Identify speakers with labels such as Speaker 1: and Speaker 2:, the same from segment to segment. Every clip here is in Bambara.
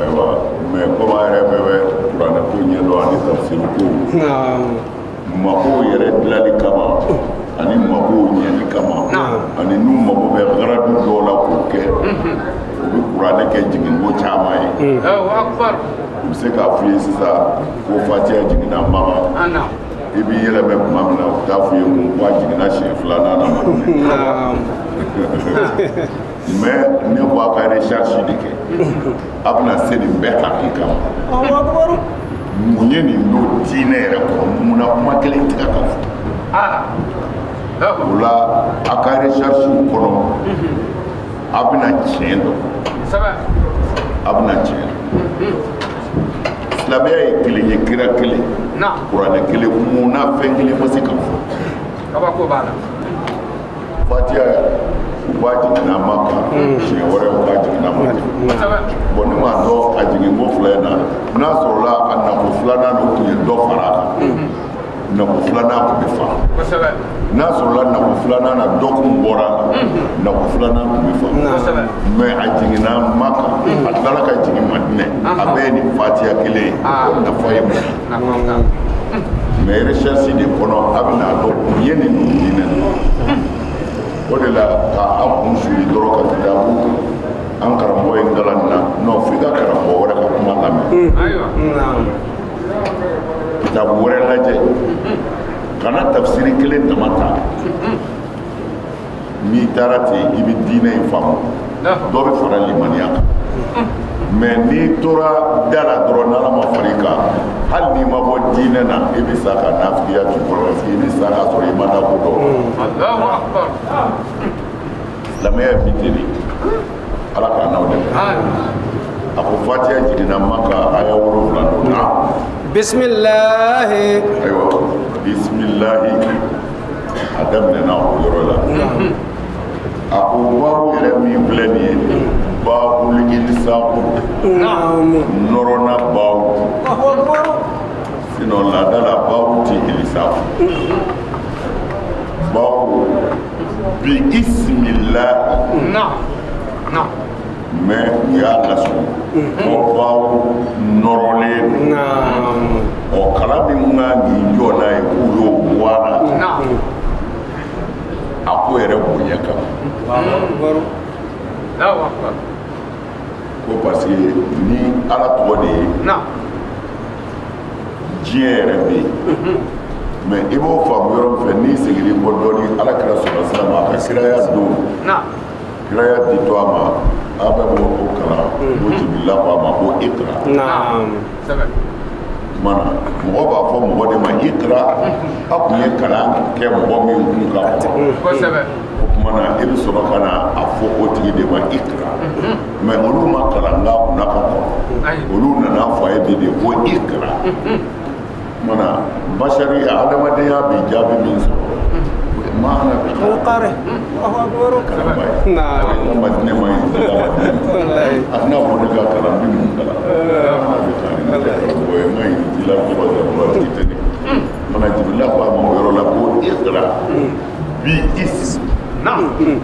Speaker 1: ayiwa mɛ kɔmi an yɛrɛ bɛɛ bɛ kuranɛ ko ɲɛ dɔn ani tafsiri
Speaker 2: ko
Speaker 1: mako yɛrɛ dilali kama ani mako ɲɛli kama ani n'u
Speaker 2: mako bɛ
Speaker 1: garadu dɔw la k'o kɛ o bɛ kuranɛ kɛ jiginko caman
Speaker 3: ye u bɛ se
Speaker 1: k'a f'i ye sisan ko fatiya jiginna
Speaker 3: maka i b'i yɛlɛmɛ
Speaker 1: tuma min na u t'a f'i ye ko a jiginna siɲɛ filanan na mɛ ne ko a ka recherche de kɛ a bɛna se nin bɛɛ hakika ma mun ye nin don diinɛ yɛrɛ kɔnɔ munna kuma kelen tɛ ka fɔ ah. o la a ka recherche kɔnɔ a bɛna tiɲɛ dɔn a bɛna tiɲɛ dɔn silamɛya ye kelen ye kira kelen kuranɛ
Speaker 3: kelen
Speaker 1: munna fɛn kelen ma se ka
Speaker 3: fɔ
Speaker 1: fatiya u b'a jiginna maka hmm. siɲɛ wɛrɛ u b'a jiginna maka bɔn ne m'a dɔn a jiginko fila in na n'a sɔrɔla a nako filanan de tun ye dɔ fara a kan hmm. nako filanan tun bɛ faamu n'a sɔrɔla nako filanan na dɔ kun bɔra a la hmm. nako filanan tun bɛ faamu mɛ a jiginna maka a tilala ka jigin madinɛ a bɛɛ ye nin fatiya kelen ye ah. nafa ye mun ye mɛ recherche de kɔnɔ a bɛna dɔn u ye nin don diinɛ o de la ka a kun suli dɔrɔn ka taa dabu an karamɔgɔ y'an kalan nin na non f'i ka karamɔgɔ wɛrɛ ka kuma lamɛn kitabu wɛrɛ lajɛ kana tafsiri kelen dama ta n'i taara ten i bɛ diinɛ in faamu dɔ bɛ fara limaniya kan mɛ n'i tora da la dɔrɔn n'ala ma fara i kan hali n'i ma bɔ diinɛ na i bɛ sa ka nafigiya t'i kɔnɔ parce que i bɛ sa k'a sɔrɔ i m'ala ko dɔn silamɛya bɛ ten de ala k'an n'aw dɛmɛ a ko fatiya jiginna maka aya wolonwula don na
Speaker 2: bisimilahi ayiwa
Speaker 1: bisimilahi a daminɛna o yɔrɔ la a ko bawu yɛrɛ min filɛ nin ye bawu ilisaku
Speaker 2: nɔrɔna
Speaker 1: bawu sinɔn laada la bawu ti ilisaku bawu bi isimilahi mɛ u y'a lasɔrɔ ko bawu nɔrɔlen
Speaker 2: don o
Speaker 1: kala min kan k'i jɔ n'a ye k'u y'o bɔ a la
Speaker 3: a
Speaker 1: ko yɛrɛ bonya kama ko parce que ni ala tɔgɔ de ye diɲɛ yɛrɛ bɛ yen mɛ i b'o faamu yɔrɔ min fɛ n'i seginna kɔ dɔɔni ala kira salalahu alehi wasalam a ka kiraya don
Speaker 3: Kiraya
Speaker 1: ditɔ a ma a bɛ bɔ ko kalan ko jibirila ko a ma ko ikra mana mɔgɔ b'a fɔ mɔgɔ de ma ikra a tun ye kalan kɛ mɔgɔ min kun ka kɔnɔ
Speaker 3: o tuma na e
Speaker 1: bɛ sɔrɔ ka na a fɔ o tigi de ma ikra mɛ olu ma kalan nka kunna ka kɔrɔ olu nana fɔ a ye bi de ko ikra mana basari adamadenya bɛ jaabi min sɔrɔ ma ana bi kari
Speaker 2: allahu akbar na
Speaker 1: ko ma ne
Speaker 2: ma
Speaker 1: wallahi
Speaker 2: ana ko ne
Speaker 1: ka kalan min mun kalan ana bɛ taa ni ne ka ko ye mai dila ko ba da ba ti te ni mana jibila ko a ma o yɔrɔ la ko ikra bi is na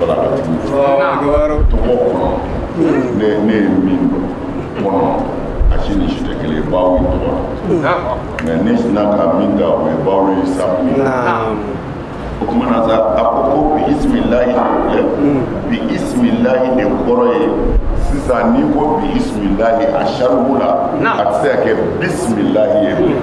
Speaker 2: barakati tɔgɔ
Speaker 1: kɔnɔ ne ne ye min dɔn kɔnɔ a si ni si tɛ kelen ye ba o ye tɔgɔ la mɛ ne sina ka min ta o ye ba o ye sabu ye o tuma na sa a ko ko bi isimilayi de bi isimilayi de kɔrɔ ye sisan n'i ko bi isimilayi a saribu la a tɛ se ka kɛ bisimilayi ye bilen.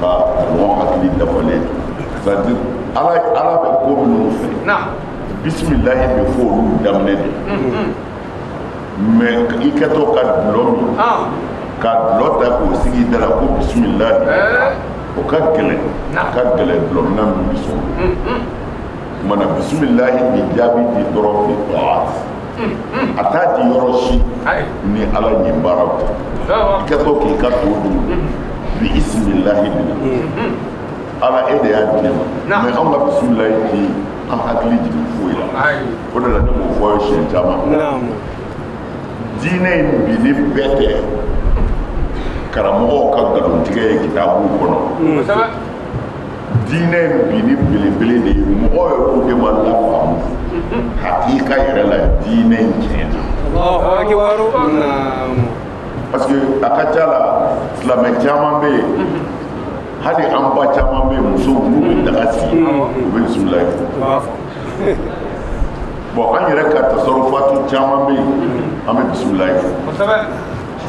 Speaker 1: ka mɔgɔ hakili dafalen c'est à dire ala bɛ ko minnu
Speaker 3: fɛ
Speaker 1: bisimilahi bɛ fɔ olu daminɛ de mais i kɛtɔ ka dulɔ min ka dulɔ ta k'o sigi da la ko bisimilahi o ka gɛlɛn a ka gɛlɛn dulɔmina min bɛ sɔn o ma na bisimilahi bɛ jaabi di dɔrɔn fi a t'a di yɔrɔ si ni ala ɲɛ baara tɛ i kɛtɔ k'i ka to dun bi isimilahi mina ala e de y'a di ne ma mɛ anw ka bisimilahi ti an hakili jigin foyi la o de la ne b'o fɔ ye siɲɛ caman diinɛ in binni bɛɛ tɛ karamɔgɔw ka nkalontigɛ ye kitabuw kɔnɔ diinɛ in binni belebele de ye mɔgɔ yɛrɛw de ma lafaamu hakika yɛrɛ la diinɛ in tiɲɛna parce que a ka ca la silamɛ caman bɛ yen hali an ba caman bɛ yen musow n'u bɛ daga sigi u bɛ bisimilayi fɔ an yɛrɛ ka tasarufatu caman bɛ yen an bɛ bisimilayi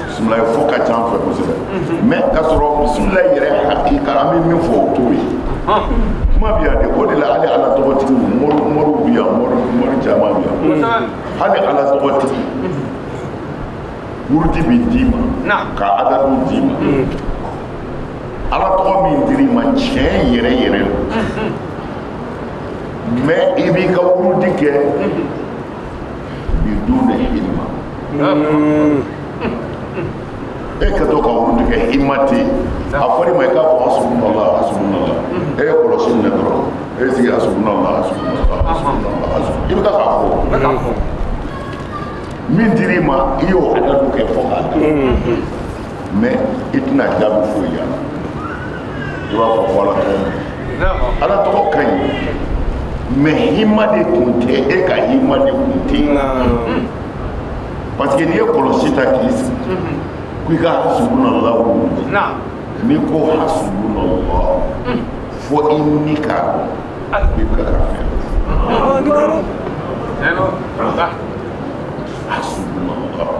Speaker 1: bisimila fɔ ka ca an fɛ kosɛbɛ mɛ ka sɔrɔ bisimila yɛrɛ hakika an bɛ min fɔ o t'o ye kuma bɛ yan de o de la hali ala tɔgɔtigi moriw bɛ yan mori caman bɛ yan hali ala tɔgɔtigi wurudi bɛ d'i ma ka adadu d'i ma ala tɔgɔ min dir'i ma tiɲɛ yɛrɛ yɛrɛ la mɛ i b'i ka wurudi kɛ biduni hima e ka to ka wurudi kɛ hima tɛ yen a fɔra i ma i k'a fɔ hasbunallah hasbunallah e ye kɔlɔsi minɛ dɔrɔn e y'i sigi hasbunallah hasbunallah hasbunallah hasbunallah i bɛ taa k'a fɔ min dir'i ma i y'o adadu kɛ fo k'a dan mais i tɛna jaabi foyi y'a la. i b'a fɔ ko ala tɔgɔ man ala tɔgɔ ka ɲi mais hima de tun tɛ e ka hima de tun tɛ yen parce que n'i ye kɔlɔsi ta k'i sigi ko i ka hasbunallahu n'i ko hasbunallahu fo i ni k'a dɔn i bɛ ka fɛn hasbunallahu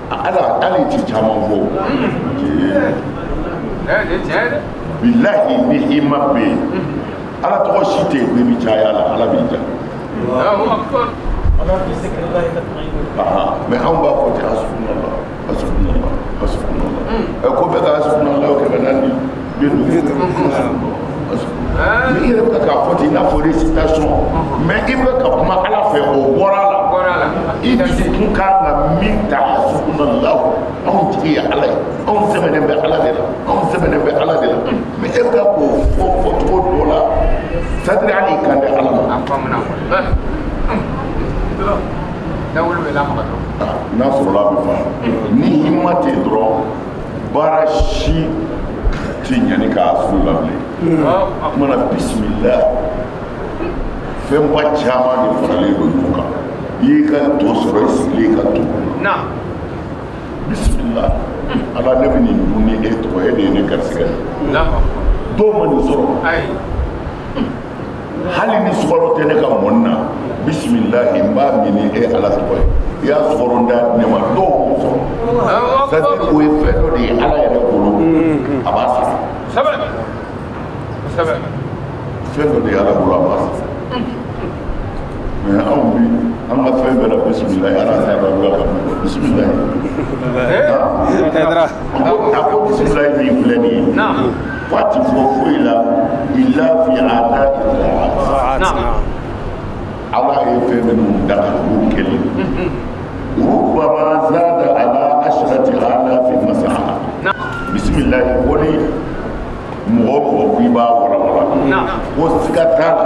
Speaker 1: ala ala ti caman fɔ bilahi ni hima bɛ yen ala tɔgɔ si tɛ yen ko i bɛ caya la ala b'i ja mais anw b'a fɔ ten hasbunallah hasbunallah hasbunallah ɛ ko bɛɛ ka hasbunallah o kɛmɛ naani i yɛrɛ bɛ k'a fɔ ten i n'a fɔ récitation mais i bɛ ka kuma ala fɛ o bɔra a la i dusukun kan ka min ta hasbunallahu anw tigi ye ala ye anw sɛmɛnen bɛ ala de la anw sɛmɛnen bɛ ala de la mais e bɛ ka k'o fɔ fɔcogo dɔ la c'est à dire hali i kan tɛ ala ma. a faamuya n'a sɔrɔla a bɛ fa ni hima tɛ yen dɔrɔn baara si tɛ ɲani k'a su la bilen o tumana bisimila fɛnba caman de faralen don ɲɔgɔn kan i y'i ka to sɔrɔ i sigilen ka to bisimila ala ne bɛ nin dun ni e tɔgɔ e de ye ne garisigɛ ye dɔw ma nin sɔrɔ hali ni sukaro tɛ ne ka mɔni na bisimilahi n b'a min ni e ala tɔgɔ ye i y'a sukaro da ne ma dɔw m'o sɔrɔ c'est à dire o ye fɛn dɔ de ye ala yɛrɛ bolo a b'a sara fɛn dɔ de ye ala bolo a b'a sara mais anw bi an ka fɛn bɛɛ la bisimilahi ala t'a dɔn a bɛ ka fɛn bisimilahi a ko bisimilahi min filɛ nin ye a ti fɔ foyi la ila fi ada ila ala ye fɛn minnu da k'u kɛlɛ rubama zada ala asarati alafi masala bisimilayi ko ni mɔgɔ mɔgɔ ko i b'a wɔrɔwɔrɔ ko siga t'a la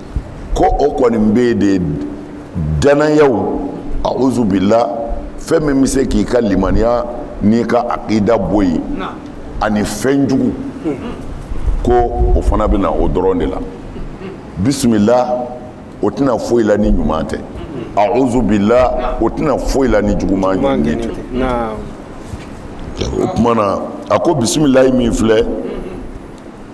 Speaker 1: ko o kɔni bɛ yen de danayaw awuzu bila fɛn min bɛ se k'i ka limaniya n'i ka akida bɔ yen ani fɛn jugu ko o fana bɛ na o dɔrɔn de la bisimila o tɛ na foyi la ni ɲuman tɛ awuzu bila o tɛ na foyi la ni juguman ɲɔgɛn tɛ o tuma na a ko bisimilahi min filɛ.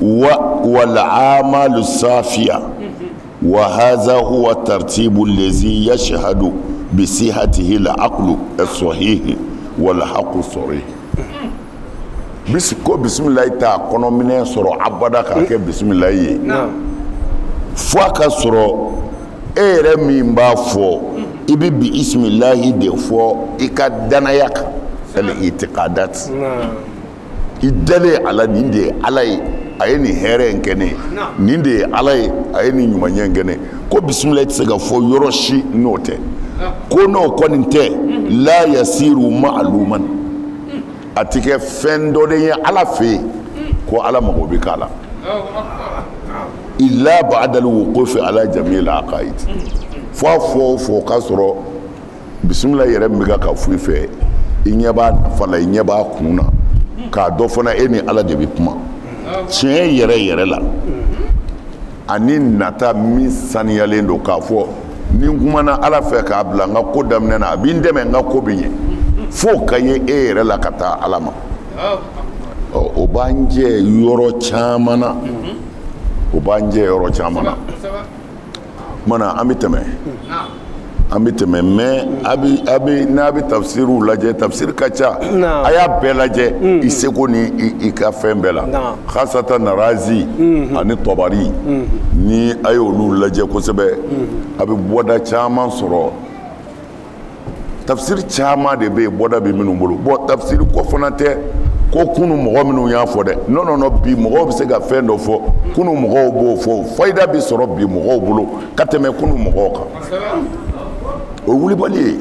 Speaker 1: wa wal amali safiya wa haza huwa taritibu lazi yasihadu bisihatihi al akilu sahihu wal haku sarihu ko bisimila t'a kɔnɔminɛ sɔrɔ abada k'a kɛ bisimila ye fo ka sɔrɔ e yɛrɛ min b'a fɔ i bɛ bisimilahi de fɔ i ka danaya kan al itikadati i dalen a la nin de ye ala ye a ye nin hɛrɛ in kɛ ne ye nin de ye ala ye a ye nin ɲumanya in kɛ ne ye ko bisimilahi tɛ se ka fɔ yɔrɔ si n'o tɛ ko n'o kɔni tɛ la yasiru maaluman a tɛ kɛ fɛn dɔ de ye ala fɛ yen ko ala mago bɛ k'a la ila ba'dal wuqufi ala jamil aqaid fo fo fo ka sɔrɔ bisimila yɛrɛ min bɛ ka fɔ i fɛ i ɲɛ b'a nafa la i ɲɛ b'a kun na k'a dɔn fana e ni ala de bɛ kuma tiɲɛ yɛrɛ yɛrɛ la ani nata min saniyalen don k'a fɔ ni n kumana ala fɛ k'a bila n ka ko daminɛ na a bɛ n dɛmɛ n ka ko bɛ ɲɛ f'o ka ye e yɛrɛ la ka taa ala ma o b'an jɛ yɔrɔ caman na o b'an jɛ yɔrɔ caman na. mana an bɛ tɛmɛ an bɛ tɛmɛ mɛ a bɛ a bɛ n'a bɛ tafsiriw lajɛ tafsiri ka ca a y'a bɛɛ lajɛ mm. i seko ni i ka fɛn bɛɛ la hasatan razi mm-hmm. ani tɔbari mm-hmm. ni a y'olu lajɛ kosɛbɛ mm-hmm. a bɛ bɔda caman sɔrɔ tafsiri caman de bɛ yen bɔda bɛ minnu bolo bɔn tafsiri ko fana tɛ ko kunu mɔgɔ minnu y'a fɔ dɛ non non non bi mɔgɔw bɛ se ka fɛn dɔ fɔ kunu mɔgɔw m'o fɔ fayida bɛ sɔrɔ bi mɔgɔw bolo ka tɛmɛ kunu mɔgɔw kan o ye wulibali ye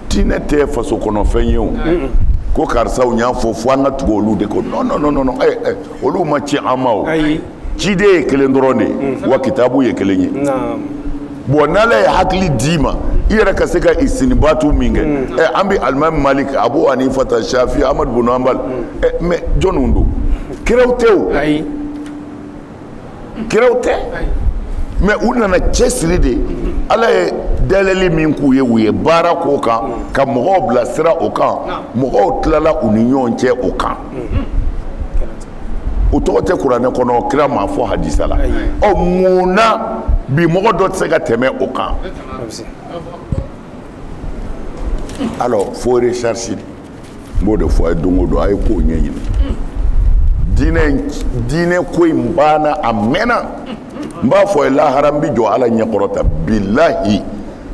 Speaker 1: diinɛ tɛ faso kɔnɔfɛn ye o ko karisaw y'a fɔ fo an ka tugu olu de kɔ non non non non eh, eh, olu ma ci an ma o ciden ye kelen dɔrɔn de ye mm. wa kitabu ye kelen ye bɔn n'ala ye hakili d'i ma i yɛrɛ ka se ka isitinbatu min kɛ mm. eh, an bɛ alimami malik abu hanifata shafi amadu bunu hanbal mm. eh, mɛ jɔnw don kiraw tɛ o kiraw tɛ mɛ u nana cɛsiri de ala ye dayɛlɛli min k'u ye u ye baara k'o kan ka mɔgɔw bilasira o kan mɔgɔw tilala u ni ɲɔgɔn cɛ o kan o tɔgɔ tɛ kuranɛ kɔnɔ kira m'a fɔ hadisa la o mun na bi mɔgɔ dɔ tɛ se ka tɛmɛ o kan alors fo recherche n b'o de fɔ a ye don o don a ye kow ɲɛɲini diinɛ ko in banna a mɛnna n b'a fɔ a ye lahara n bi jɔ ala ɲɛkɔrɔ ta bilahi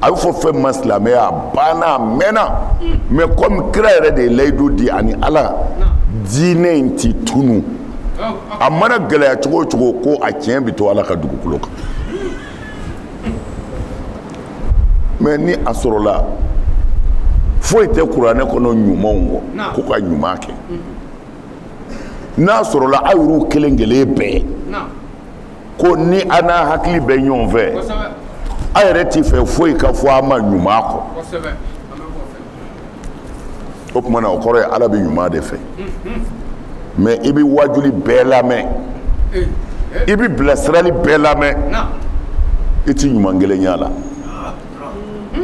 Speaker 1: a bɛ fɔ fɛn ma silamɛya a banna a mɛnna mais comme kira yɛrɛ de ye layidu di ani ala diinɛ in ti tunu a mana gɛlɛya cogo o cogo ko a tiɲɛ bɛ to ala ka dugukolo kan mais ni a sɔrɔla foyi tɛ kuranɛ kɔnɔ ɲuman kɔ ko ka ɲuman kɛ n'a sɔrɔla aw yɛrɛ kelen kelen bɛɛ ko ni a n'a hakili bɛ ɲɔgɔn fɛ a yɛrɛ tɛ fɛ foyi ka fɔ a ma ɲuman kɔ o tuma na o kɔrɔ ye ala bɛ ɲuman de fɛ mais i bɛ wajuli bɛɛ lamɛn i bɛ bilasirali bɛɛ lamɛn i tɛ ɲuman kelen y'a la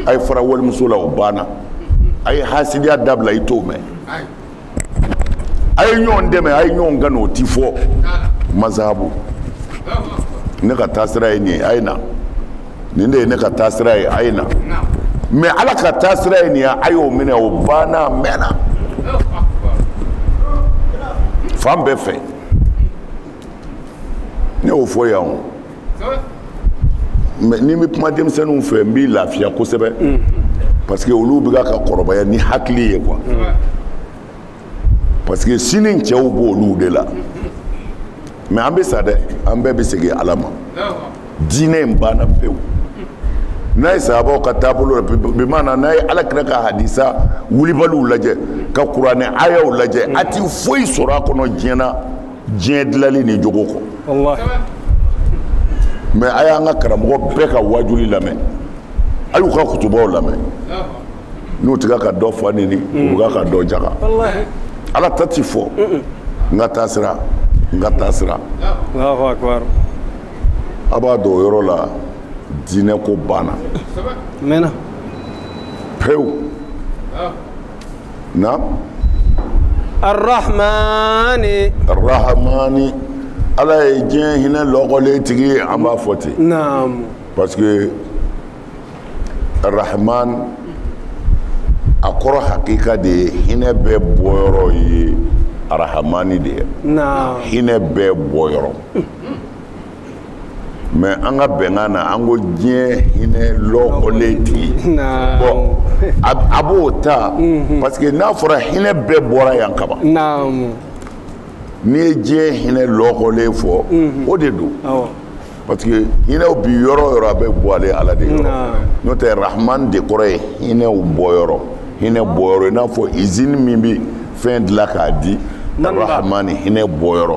Speaker 1: a ye fara walimuso la o banna a ye hasidiya dabila i t'o mɛn a ye ɲɔgɔn dɛmɛ a ye ɲɔgɔn kanu o ti fɔ mazahabu ne ka taasira ye nin ye a ye na nin de ye ne ka taasira ye a ye na mais ala ka taasira ye nin ye a y'o minɛ o banna a mɛnna fan bɛɛ fɛ ne y'o fɔ yan o mais ni n bɛ kuma denmisɛnninw fɛ n b'i lafiya kosɛbɛ mm. parce que olu bɛ ka kɔrɔbaya ni hakili ye quoi mm. parce que sini cɛw b'olu de la mais an bɛ sa dɛ an bɛɛ bɛ segin ala ma diinɛ in banna pewu n'a ye sahabaw ka taabolo la bi maana n'a ye ala kira ka hadisa wulibaliw lajɛ ka kuranɛ ayaw lajɛ a ti foyi sɔrɔ a kɔnɔ diɲɛ na diɲɛ dilali ni jogo kɔ mais a y'an ka karamɔgɔ bɛɛ ka wajuli lamɛn a y'u ka kutubaw lamɛn n'u ti ka ka dɔ fa nini u bɛ ka ka dɔ jaga ala ta ti fɔ n ka taasira n ka taasira a b'a dɔn o yɔrɔ la diinɛ ko banna pewu naam
Speaker 2: arahamani
Speaker 1: ala ye diɲɛ hinɛ lɔgɔlen tigi ye an b'a fɔ ten naamu parce
Speaker 2: que
Speaker 1: arahaman a kɔrɔ hakika de ye hinɛ bɛɛ bɔyɔrɔ ye arahamani de ye naamu hinɛ
Speaker 2: bɛɛ
Speaker 1: bɔyɔrɔ mais an ka bɛnkan na an ko diɲɛ hinɛ lɔkɔlen tigi bon a b'o ta mhm. parce que n'a fɔra hinɛ bɛɛ bɔra yan ka ban n'i ye diɲɛ hinɛ lɔkɔlen fɔ mhm. o de don parce que hinɛw bi yɔrɔ o yɔrɔ a bɛ bɔ ale ala de yɔrɔ n'o tɛ rahman de kɔrɔ ye hinɛw bɔyɔrɔ hinɛ bɔyɔrɔ i n'a fɔ izini min bɛ fɛn dilan k'a di rahman hinɛ bɔyɔrɔ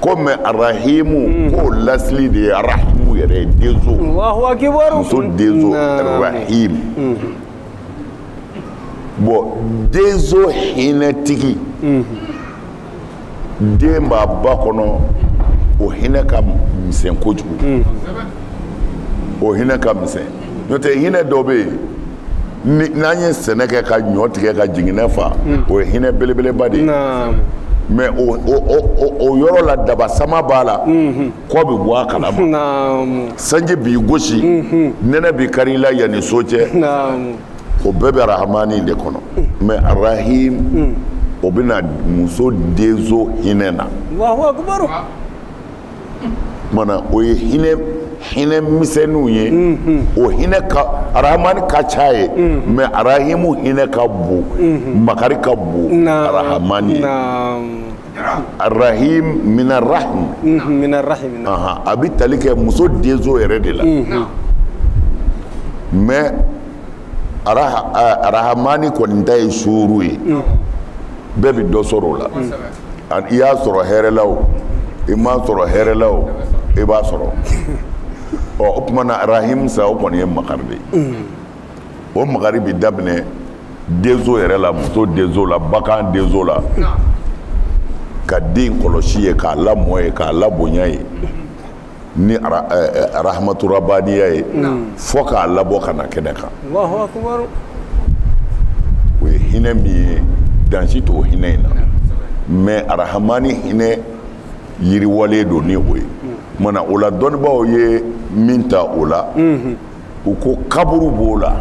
Speaker 1: ko mais arahimu hmm. k'o lasili de ye arahimu yɛrɛ ye denso muso denso arahim hmm. bon denso hinɛtigi hmm. den b'a ba kɔnɔ o hinɛ ka misɛn kojugu o hinɛ ka misɛn n'o tɛ hinɛ dɔ bɛ yen n'an ye sɛnɛ kɛ ka ɲɔ tigɛ ka jiginɛ fa mm. o ye hinɛ belebeleba de ye mais o yɔrɔ la daba sama b'a la mm-hmm. kɔ bɛ bɔ a kalama sanji b'i gosi mm-hmm. nɛnɛ b'i kari i la yan ni so cɛ o bɛɛ bɛ arahamani de kɔnɔ mm. mais arahim mm. o bɛna muso denzo hinɛ na mana o ye hinɛ hinɛ misɛnninw ye o hinɛ arahamani ka ca ye mais arahimu hinɛ ka bon makari ka bon arahamani ye arahim minarahim a bɛ tali kɛ muso denso yɛrɛ de la mais arahamani kɔni ta ye suuru ye bɛɛ bɛ dɔ sɔrɔ o la i y'a sɔrɔ hɛrɛ la o i m'a sɔrɔ hɛrɛ la o i b'a sɔrɔ ɔ o tuma na arahim sa o kɔni ye makari de ye o makari bɛ daminɛ denso yɛrɛ la muso denso la bagan denso la ka den kɔlɔsi ye k'a lamɔ ye k'a labonya ye ni arahamaturabaniya ye fo k'a labɔ ka na kɛnɛ kan o ye hinɛ min ye dan si t'o hinɛ in na mais arahamani hinɛ yiriwalen don ni o ye mana o la dɔnnibaaw ye min ta o la u ko kaburu b'o la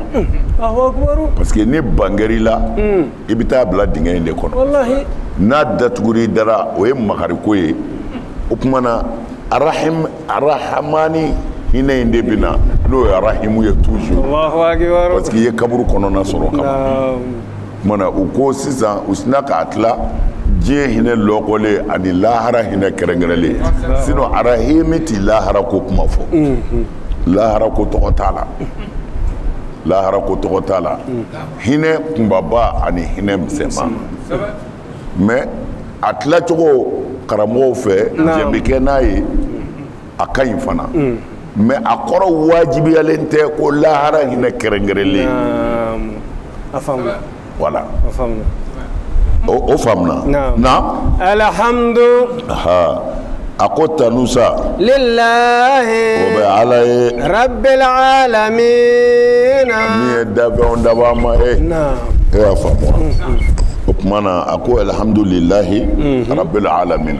Speaker 1: parce que ni ban kɛr'i la hmm. i bɛ taa bila dingɛ in de kɔnɔ n'a datugur'i dara o ye makariko ye o tuma na arahamani hinɛ in de bɛ na n'o ye arahimu ye toujours parce
Speaker 2: que i ye kaburu
Speaker 1: kɔnɔna sɔrɔ ka Mana u ko sisan u sinna k'a tila diɲɛ hinɛ lɔkɔlen ani lahara hinɛ kɛrɛnkɛrɛnlen sinon arahimi tɛ lahara ko kuma fɔ lahara ko tɔgɔ t'a la lahara ko tɔgɔ t'a la hinɛ kunbaba ani hinɛ misɛnman mais a tilacogo karamɔgɔw fɛ jɛn bɛ kɛ n'a ye a ka ɲi fana mm. mais a kɔrɔ wajibiyalen tɛ ko lahara hinɛ kɛrɛnkɛrɛnlen a faamuna
Speaker 2: voilà a faamuna o
Speaker 1: faamuna na alhamdu a ko tanusa
Speaker 2: lilahi o bɛ
Speaker 1: ala ye
Speaker 2: rabbil alamin min
Speaker 1: ye dafɛnw dabaa ma ye e y'a faamu wa mm, mm. o tuma na a ko alhamdulilahi mm-hmm. rabbil alamin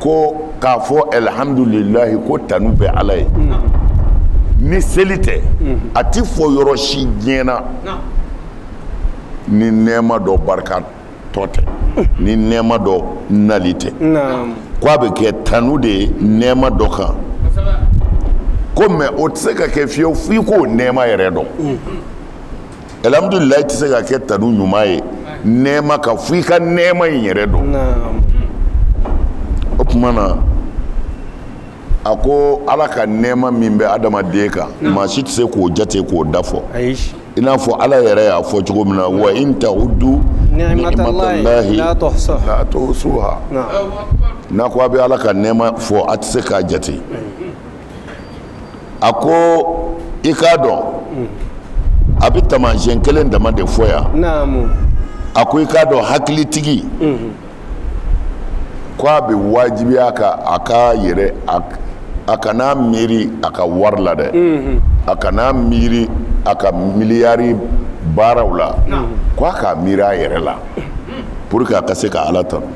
Speaker 1: ko k'a fɔ alihamdulilayi ko tanu bɛ ala ye ni seli tɛ a tɛ fɔ yɔrɔ si diɲɛ na ni nɛɛma dɔ barika tɔ tɛ ni nɛɛma dɔ nali tɛ ko a bɛ kɛ tanu de ye nɛɛma dɔ kan ko mais o tɛ se ka kɛ fiyewu f'i k'o nɛɛma yɛrɛ dɔn alhamdulilayi tɛ se ka kɛ tanu ɲuman ye nɛɛma kan fo i ka nɛɛma in yɛrɛ dɔn o tuma na a ko ala ka nɛɛma min bɛ adamaden kan maa si tɛ se k'o jate k'o da fɔ i n'a fɔ ala yɛrɛ y'a fɔ cogo min na wa in ta'uddu ni'matalahi la tuhsuha n'a ko a bɛ ala ka nɛɛma fɔ a tɛ se k'a jate a ko i k'a dɔn a bɛ taamasiyɛn kelen dama de fɔ yan a ko i k'a dɔn hakilitigi ko a bɛ wajibiya a kan a ka yɛrɛ a kana miiri a ka wari la dɛ a kana miiri a ka miliyari baaraw la ko a k'a miiri a yɛrɛ la pour que a ka se ka ala tanu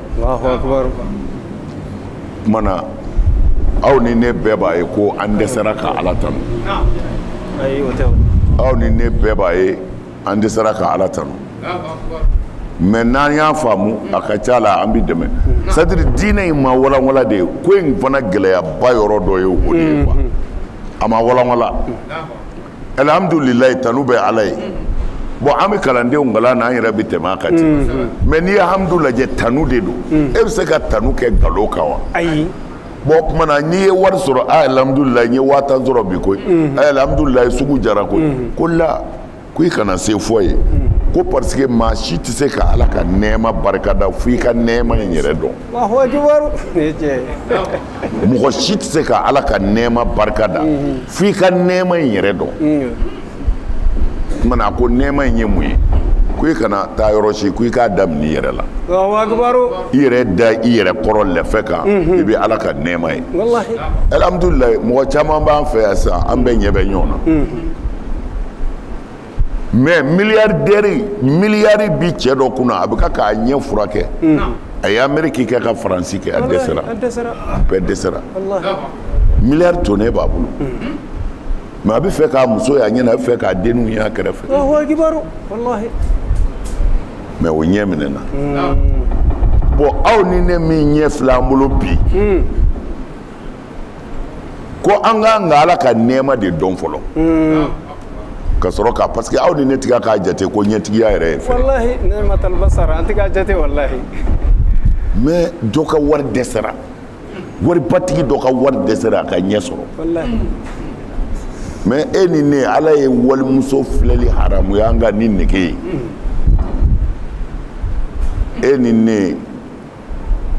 Speaker 1: tuma na aw ni ne bɛɛ b'a ye ko an dɛsɛra ka ala tanu aw ni ne bɛɛ b'a ye an dɛsɛra ka ala tanu mais n'an y'a faamu a ka ca la an bɛ dɛmɛ c'est-à-dire diinɛ in ma walanwala de ye ko in fana gɛlɛyaba yɔrɔ dɔ ye o de ye quoi a ma walanwala alihamdulilayi tanu bɛ ala ye bon an bɛ kalandenw kalan na an yɛrɛ bɛ tɛmɛ a kan ten mais n'i ye hamidu lajɛ tanu de don e bɛ se ka tanu kɛ nkalon kan wa ayi bon o tuma na n'i ye wari sɔrɔ a alihamdulilayi n ye waa tan sɔrɔ bi koyi a alihamdulilayi sugu diyara koyi ko la ko i kana se fɔ ye ko parce que maa si tɛ se ka ala ka nɛɛma barika da fo i ka nɛɛma in yɛrɛ dɔn mɔgɔ si tɛ se ka ala ka nɛɛma barika da fo i ka nɛɛma in yɛrɛ dɔn tuma na a ko nɛɛma in ye mun ye ko i kana taa yɔrɔ si ko i k'a daminɛ i yɛrɛ la i yɛrɛ da i yɛrɛ kɔrɔ lɛfɛ kan i bɛ ala ka nɛɛma ye alihamudulilayi mɔgɔ caman b'an fɛ yan sisan an bɛɛ ɲɛ bɛ ɲɔgɔn na mɛ miliyardɛri miliyari bi cɛ dɔ kunna a bɛ ka k'a ɲɛ furakɛ a ye ameriki kɛ ka faransi kɛ a dɛsɛra a bɛɛ dɛsɛra miliyari tonnen b'a bolo mɛ a bɛ fɛ k'a muso y'a ɲɛ na a bɛ fɛ k'a denw y'a kɛrɛfɛ mɛ o ɲɛ minɛna bɔn aw ni ne min ɲɛ fila an bolo bi ko an k'an ka ala ka nɛɛma de dɔn fɔlɔ ka sɔrɔ k' parce que aw ni ne tɛ ka k'a jate ko ɲɛtigiya yɛrɛ ye fɛn
Speaker 2: mɛ
Speaker 1: dɔ ka wari dɛsɛra waribatigi dɔ ka wari dɛsɛra a ka ɲɛ sɔrɔ mɛ e ni ne ala ye walimuso filɛli haramuya an ka ni nege ye e ni ne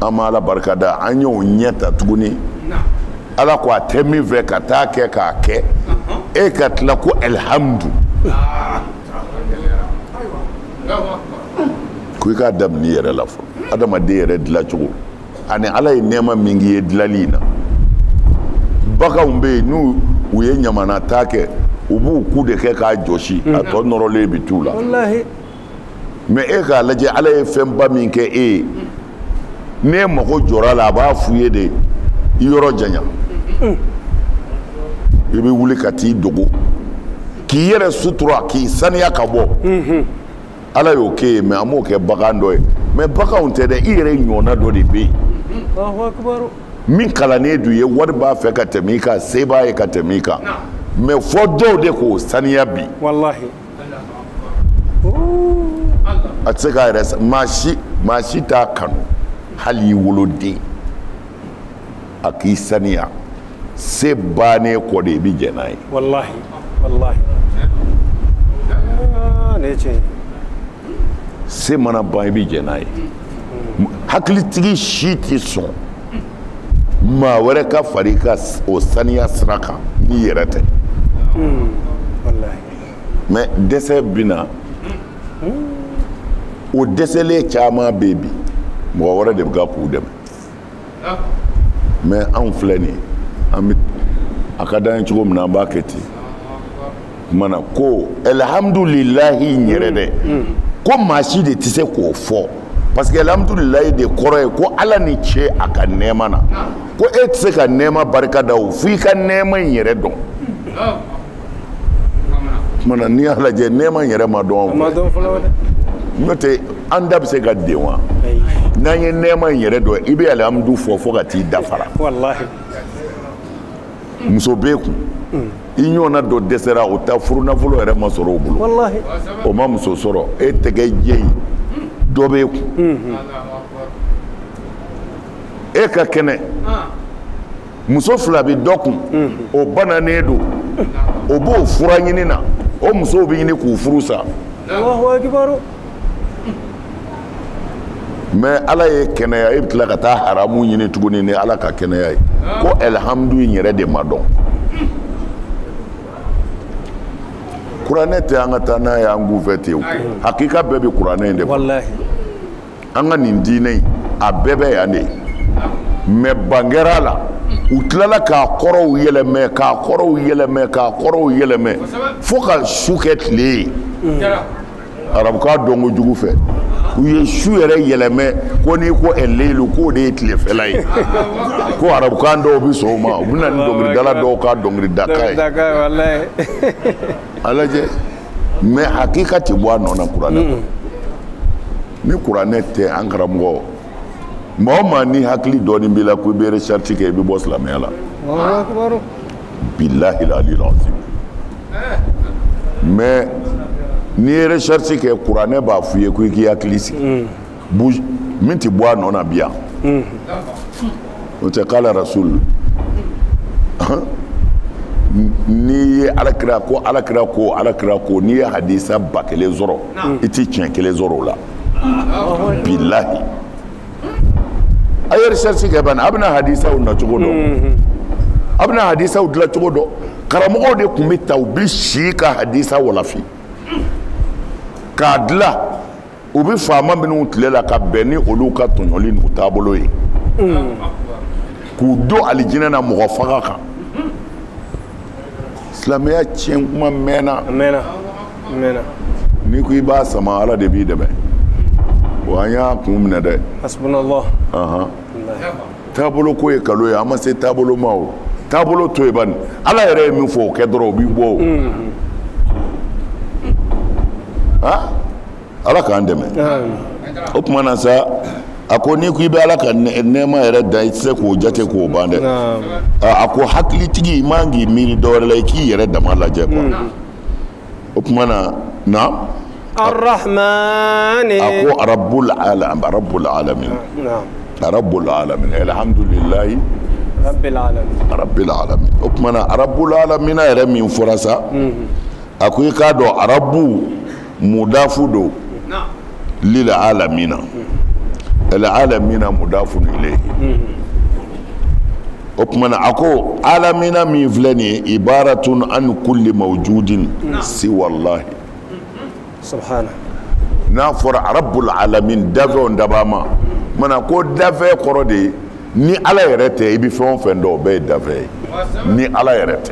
Speaker 1: an ma ala barika da an y'o ɲɛ ta tuguni ala ko a tɛ min fɛ ka taa kɛ k'a kɛ e ka tila ko alihamudu ko i k'a daminɛ i yɛrɛ la fɔ adamaden yɛrɛ dilacogo ani ala ye nɛɛma min k'i ye dilali in na baganw bɛ yen n'u ye ɲamanataa kɛ u b'u ku de kɛ k'a jɔsi a tɔ nɔrɔlen bɛ t'u la mɛ e k'a lajɛ ala ye fɛnba min kɛ e ye n'e mago jɔra a la a b'a f'i ye de i yɔrɔ janya i bɛ wuli ka t'i dogo k'i yɛrɛ sutura k'i saniya ka bɔ mhm. ala y'o k'e ye mɛ a m'o kɛ bagan dɔ ye mɛ baganw tɛ dɛ i yɛrɛ ɲɔgɔnna dɔ de bɛ
Speaker 2: yen min kalannen
Speaker 1: don i ye wari b'a fɛ ka tɛmɛ i kan se b'a ye ka tɛmɛ i kan mɛ fo dɔw de k'o saniya bi A tɛ se k'a yɛrɛ sa maa si maa si t'a kanu hali i woloden a k'i saniya se bannen kɔ de i bɛ jɛn n'a ye
Speaker 2: walahi walahi ah, ne
Speaker 1: tiɲɛ se mana ban i bɛ jɛn n'a ye hakilitigi si tɛ sɔn maa wɛrɛ ka fara i ka o saniya sira kan n'i yɛrɛ tɛ hmm,
Speaker 2: walahi
Speaker 1: mɛ dɛsɛ bɛ na o dɛsɛlen caman bɛ bi mɔgɔ wɛrɛ de bɛ ka k'u dɛmɛ ah. mɛ anw filɛ nin an bɛ a ka d'an ye cogo min na an b'a kɛ ten kumana ko alihamudulilahi in yɛrɛ dɛ mm, mm. ko maa si de tɛ se k'o fɔ parce que alihamudulilahi de kɔrɔ ye ko ala ni ce a ka nɛɛma na ah. ko e tɛ se ka nɛɛma barika da o fo i ka nɛɛma in yɛrɛ dɔn ah. na n'i y'a lajɛ nɛɛma yɛrɛ ma dɔn n'o tɛ an da bɛ se ka den wa n'an ye nɛɛma in yɛrɛ dɔn i bɛ alihamudu fɔ fo ka t'i da fara muso b'e kun mm. i ɲɔgɔnna dɔ dɛsɛra o ta furu nafolo yɛrɛ ma sɔrɔ o bolo o
Speaker 2: ma
Speaker 1: muso sɔrɔ e tɛgɛ jɛ in dɔ b'e kun mm-hmm. e ka kɛnɛ ah. muso fila bɛ dɔ kun o bananen don o b'o fura ɲini na o musow bɛ ɲini k'u furu sa mais ala y'e kɛnɛya e bɛ tila ka taa haramu ɲini tuguni ni ala ka kɛnɛya ye ko alihamudu in yɛrɛ de ma dɔn kuranɛ tɛ an ka taa n'a ye an kun fɛ ten o hakika bɛɛ bɛ kuranɛ in de kɔnɔ an ka nin diinɛ in a bɛɛ bɛ yan de mais bangera a la u tilala k'a kɔrɔw yɛlɛmɛ k'a kɔrɔw yɛlɛmɛ k'a kɔrɔw yɛlɛmɛ fo ka su kɛ tile ye arabukan dɔn kojugu fɛ u ye su yɛrɛ yɛlɛmɛ ko n'i ko ɛleyilu k'o de ye tilefɛla ye ko arabukan dɔw bɛ sɔn o ma u bɛ na ni dɔnkilidala dɔw ka dɔnkilidakan ye
Speaker 2: a
Speaker 1: lajɛ mais hakika tɛ bɔ a nɔ na kuranɛ kɔnɔ ni kuranɛ tɛ an karamɔgɔ maa o maa ni hakili dɔɔnin b'i la ko i bɛ recherche kɛ i bɛ bɔ silamɛya la bilahi aliyil azim mais n'i ye recherche kɛ kuranɛ b'a f'i ye ko i k'i hakili sigi min tɛ bɔ a nɔ na bi yan o tɛ kala rasul n'i ye alakira ko n'i ye hadisa ba kelen sɔrɔ i tɛ tiɲɛ kelen sɔrɔ o la bilahi a ye recherche kɛ bani a bɛna hadisaw na cogo dɔn a bɛna hadisaw dilan cogo dɔn karamɔgɔw de tun bɛ taa u bɛ si ka hadisa walafi k'a dilan u bɛ faama minnu tile la ka bɛn ni olu ka tɔɲɔli n'u taabolo ye k'u don alijinɛ na mɔgɔ faga kan silamɛya tiɲɛ kuma mɛnna n'i ko i b'a sama ala de b'i dɛmɛ wa an y'a kun minɛ dɛ hasbunallah taabolo ko ye kalon ye an ma se taabolo ma o taabolo to yen bani ala yɛrɛ ye min fɔ o kɛ dɔrɔn o b'i bɔ o ah ala k'an dɛmɛ o tuma na sa a ko n'i ko i bɛ ala ka nɛɛma yɛrɛ dan i tɛ se k'o jate k'o ban dɛ a ko hakilitigi i man k'i miiri dɔwɛrɛ la i k'i yɛrɛ dama lajɛ quoi o tuma na na arahaman
Speaker 2: a ko
Speaker 1: arabu arabul alamin arabul alamin alhamdulilayi rabul alamin o tuma na arabul alamin yɛrɛ min fɔra sa a ko i k'a dɔn arabu mudafu don lil alamina al alamina mudafun ilayhi o tuma na a ko alamina min filɛ nin ye ibaratun an kulli mawjudin siwallahi
Speaker 2: subhana
Speaker 1: n'a fɔra arabul alamin dafɛnw dabaa ma maana ko dafɛn kɔrɔ de ye ni ala yɛrɛ tɛ i bɛ fɛn o fɛn dɔn o bɛɛ ye dafɛn ye ni ala yɛrɛ tɛ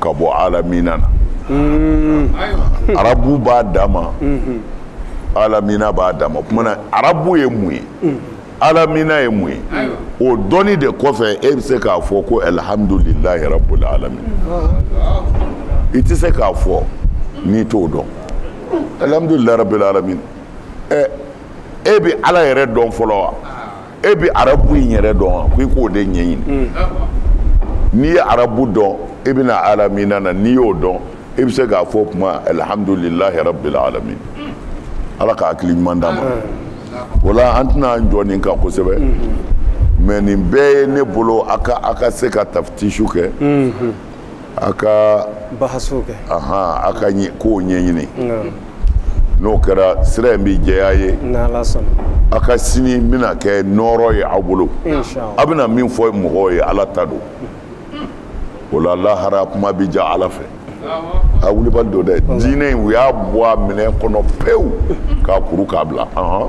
Speaker 1: ka bɔ alamina na mm. arabu b'a dama mm-hmm. alamina b'a dama o tuma na arabu ye mun ye mm. alamina ye mun ye o dɔnni de kɔfɛ e bɛ se k'a fɔ ko alihamdulilayi rabul alamin i tɛ se k'a fɔ n'i t'o dɔn alihamdulilayi rabul alamin ɛ e bɛ ala yɛrɛ dɔn fɔlɔ wa. e bɛ arabu in yɛrɛ dɔn wa ko i k'o de ɲɛɲini mm. n'i ye arabu dɔn i bɛ na alamina na n'i y'o dɔn i bɛ se k'a fɔ o tuma alihamudulilahi rabbil alamin mm. ala ka hakili ɲuman d'an ma mm. o la an tɛna an jɔ nin kan kosɛbɛ mais nin bɛɛ ye ne bolo a ka a ka se ka tafitisu kɛ a ka bahasu
Speaker 2: kɛ ahan a ka
Speaker 1: ɲɛ- kow ɲɛɲini Nka, n'o kɛra sira in bɛ jɛya a ye n'ala sɔnna
Speaker 2: a ka sini
Speaker 1: bɛna kɛ nɔɔrɔ ye aw bolo inshallah a bɛna min fɔ mɔgɔw ye ala ta don o la lahara kuma bɛ ja ala fɛ a wulibali don dɛ diinɛ in u y'a bɔ a minɛn kɔnɔ pewu k'a kuru k'a bila ahan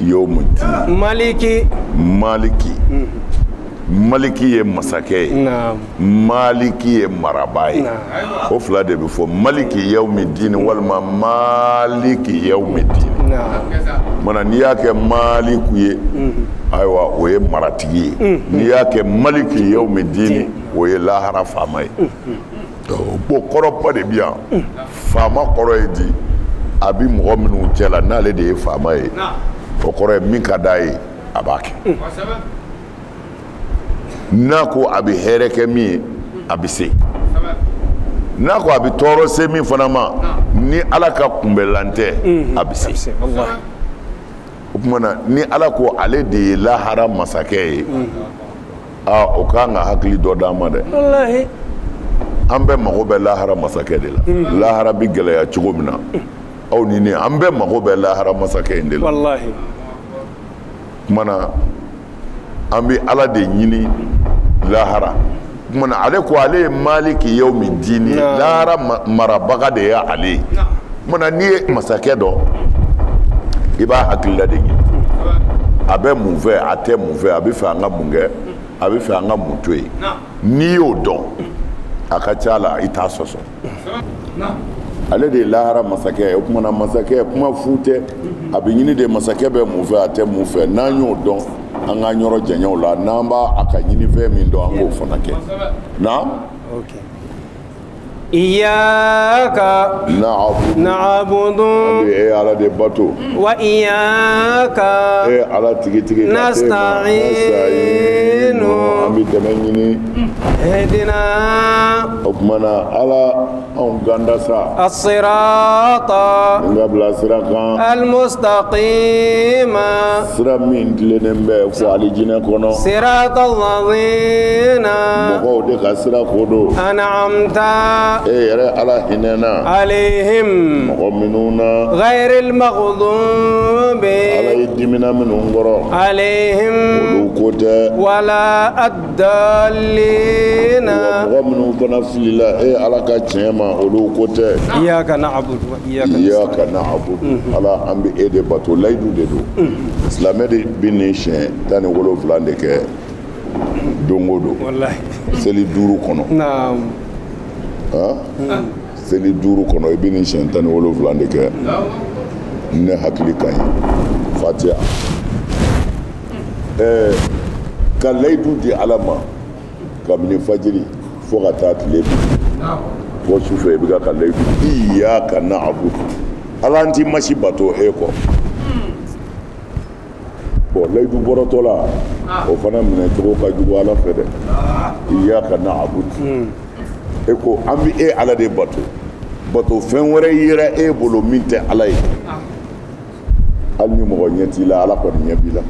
Speaker 1: yawmi dini
Speaker 2: maliki
Speaker 1: maliki maliki ye masakɛ ye naam maliki ye marabaa ye Naam. o fila de bɛ fɔ maliki yawmi dini walima maliki yawmi dini naam maana n'i y'a kɛ maliku ye ayiwa o ye maratigi ye n'i y'a kɛ maliki yawmi dini o ye lahara faama ye bon kɔrɔba de bi yan faama kɔrɔ ye di a bi mɔgɔ minnu cɛ la n'ale de ye faama ye o kɔrɔ ye min ka d'a ye a b'a kɛ mm. n'a ko a bɛ hɛrɛ kɛ min ye a bɛ se n'a ko a bɛ tɔɔrɔ se min fana ma ni ala ka kunbɛlan tɛ mm-hmm. a bɛ se o tuma na ni ala ko ale de ye lahara masakɛ ye mm-hmm. aa o kan ka hakili dɔ d'an ma dɛ walahi an bɛɛ mago bɛ lahara masakɛ de la hmm. lahara bɛ gɛlɛya cogo min na aw ni ne an bɛɛ mago bɛ lahara masakɛ in de la walahi kuma na an bɛ ala de ɲini lahara kuma na ale ko ale ye maliki yawmi dini lahara marabaga de ye ale ye kuma na n'i ye masakɛ dɔn i b'a hakilila de ɲini a bɛ mun fɛ a tɛ mun fɛ a bɛ fɛ an ka mun kɛ a bɛ fɛ an ka mun to yen n'i y'o dɔn a ka ca la i t'a sɔsɔ ale de ye lahara masakɛ ye o kuma na masakɛ kuma fu tɛ a bɛ ɲini de masakɛ bɛ mun fɛ a tɛ mun fɛ n'an y'o dɔn an k'an yɔrɔ janya o la n'an b'a a ka ɲinifɛn min dɔn an k'o fana kɛ na
Speaker 2: Iyaka naabudu e ala
Speaker 1: de bato wa
Speaker 2: iyaka e ala
Speaker 1: tigitigi nasitayinu an
Speaker 2: bɛ dɛmɛ
Speaker 1: ɲini
Speaker 2: ihidina
Speaker 1: o tuma na ala an kanda sa asirata
Speaker 2: n ka bila sira kan almustaqima sira min tilennen bɛ fo alijinɛ kɔnɔ sirata lazina mɔgɔw de ka sira ko don anamta e yɛrɛ ala hinɛna alehim mɔgɔ minnu na gayirili magadubi ala e dimina minnu kɔrɔ alehim olu ko tɛ wala dalina mɔgɔ minnu fana filila e ala ka tiɲɛ ma olu ko tɛ iyaka naabudu
Speaker 1: iyaka naabudu mhm. ala an bɛ e de bato layidu de don mhm. silamɛ de bɛ nin siɲɛ tan ni wolonwula de kɛ don o don seli
Speaker 2: duuru
Speaker 1: kɔnɔ
Speaker 2: mhm.
Speaker 1: seli duuru kɔnɔ i bɛ nin siɲɛ tan ni wolonwula de kɛ ni ne hakili ka ɲi fatiya ɛɛ ka layidu di ala ma kabini fajiri fo ka taa tile bin fo su fɛ i bɛ ka ka layidu iyaka naabudu ala an tɛ maa si bato e kɔ bon layidu bɔrɔtɔla o fana minɛcogo ka jugu ala fɛ dɛ iyaka naabudu e ko an bɛ e ala de bato batofɛn wɛrɛ yera e bolo min tɛ ala ye hali ni mɔgɔ ɲɛ t'i la ala kɔni ɲɛ b'i la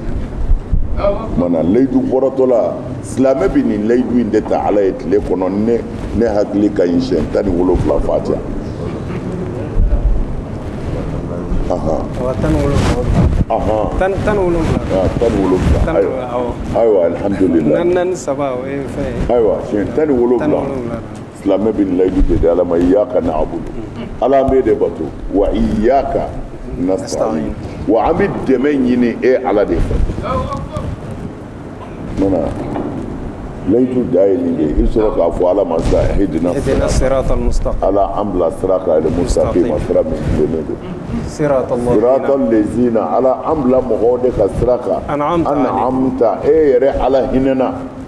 Speaker 1: mana layidu bɔrɔtɔla silamɛ bɛ nin layidu in de ta ala ye tile kɔnɔ ni ne hakili ka ɲi siɲɛ tan ni wolonwula fatiya tan ni wolonwula tan ni wolonwula ayiwa alihamudulila naani saba o ye fɛn ye ayiwa siɲɛ tan ni wolonwula silamɛ bɛ layidu de di ala ma iyaka nabudu ala an b'e de bato wa iyaka nasitayin wa an bɛ dɛmɛ ɲini e ala de fɛ mana layidu da ye nin de ye i bɛ sɔrɔ k'a fɔ ala ma sa ihidina ala an bila sira kan al mustaqima sira min tilennen don sirata lezina ala an bila mɔgɔw de ka sira kan an'amta e yɛrɛ ala hinɛna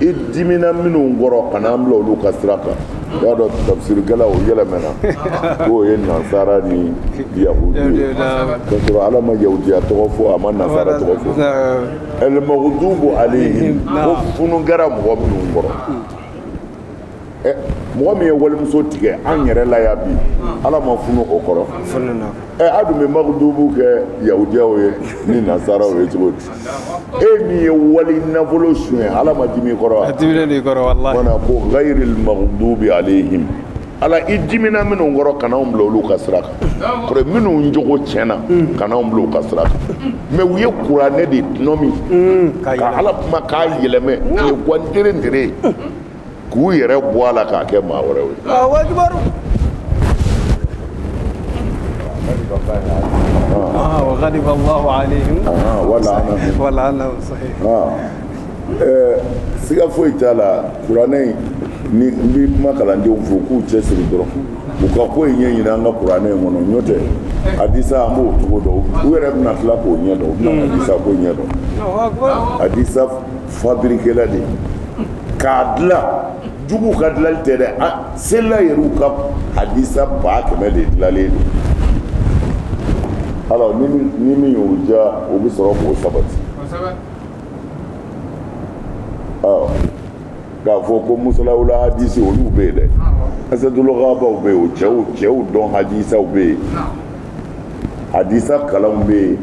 Speaker 1: i dimina minnu kɔrɔ kana an bila olu ka sira kan i b'a dɔn tafsirikɛlaw yɛlɛmɛna k'o ye nasara ni yahudi ye k'a sɔrɔ ala ma yahudiya tɔgɔ fɔ a ma nasara tɔgɔ fɔ ɛlmagudubu aleyhim ko funu kɛra mɔgɔ minnu kɔrɔ eh, mɔgɔ min ye walimuso tigɛ an yɛrɛ la yan bi ala ma funu o kɔrɔ eh, a dun bɛ magudubu kɛ yahudiyaw ye ni nasaraw ye cogo di e min ye wali nafolo suɲɛ ala ma dimi i kɔrɔ wa a dimilen de kɔrɔ walahi wala ko gayiril magudubi alehim ala i dimina minnu kɔrɔ kana anw bila olu ka sira kan kɔrɔ minnu jogo tiɲɛna kana anw bila u ka sira kan mais u ye kuranɛ de tɔnɔmi ka ala kuma k'a yɛlɛmɛ o ye gwantere ntere ye k'u yɛrɛ bɔ a la k'a kɛ maa wɛrɛw
Speaker 2: ye
Speaker 1: siga foyi t'a la kuranɛ in ni n bɛ kuma kalandenw fo k'u cɛ siri dɔrɔn u ka ko in ɲɛ ɲini an ka kuranɛ in kɔnɔ n'o tɛ hadisa an b'o cogo dɔn u yɛrɛ bɛna tila k'o ɲɛ dɔn u bɛna hadisa ko ɲɛ dɔn hadisa fabirikɛla de k'a dilan jugu ka dilali tɛ dɛ a sela yɛrɛw ka hadisa ba kɛmɛ de dilalen don alors ni min ni min y'o diya o bɛ sɔrɔ k'o sabati awɔ k'a fɔ ko mustalahul hadisi olu bɛ yen dɛ asadul gaabaw bɛ yen o cɛw cɛw dɔn hadisaw bɛ yen hadisa kalanw bɛ yen.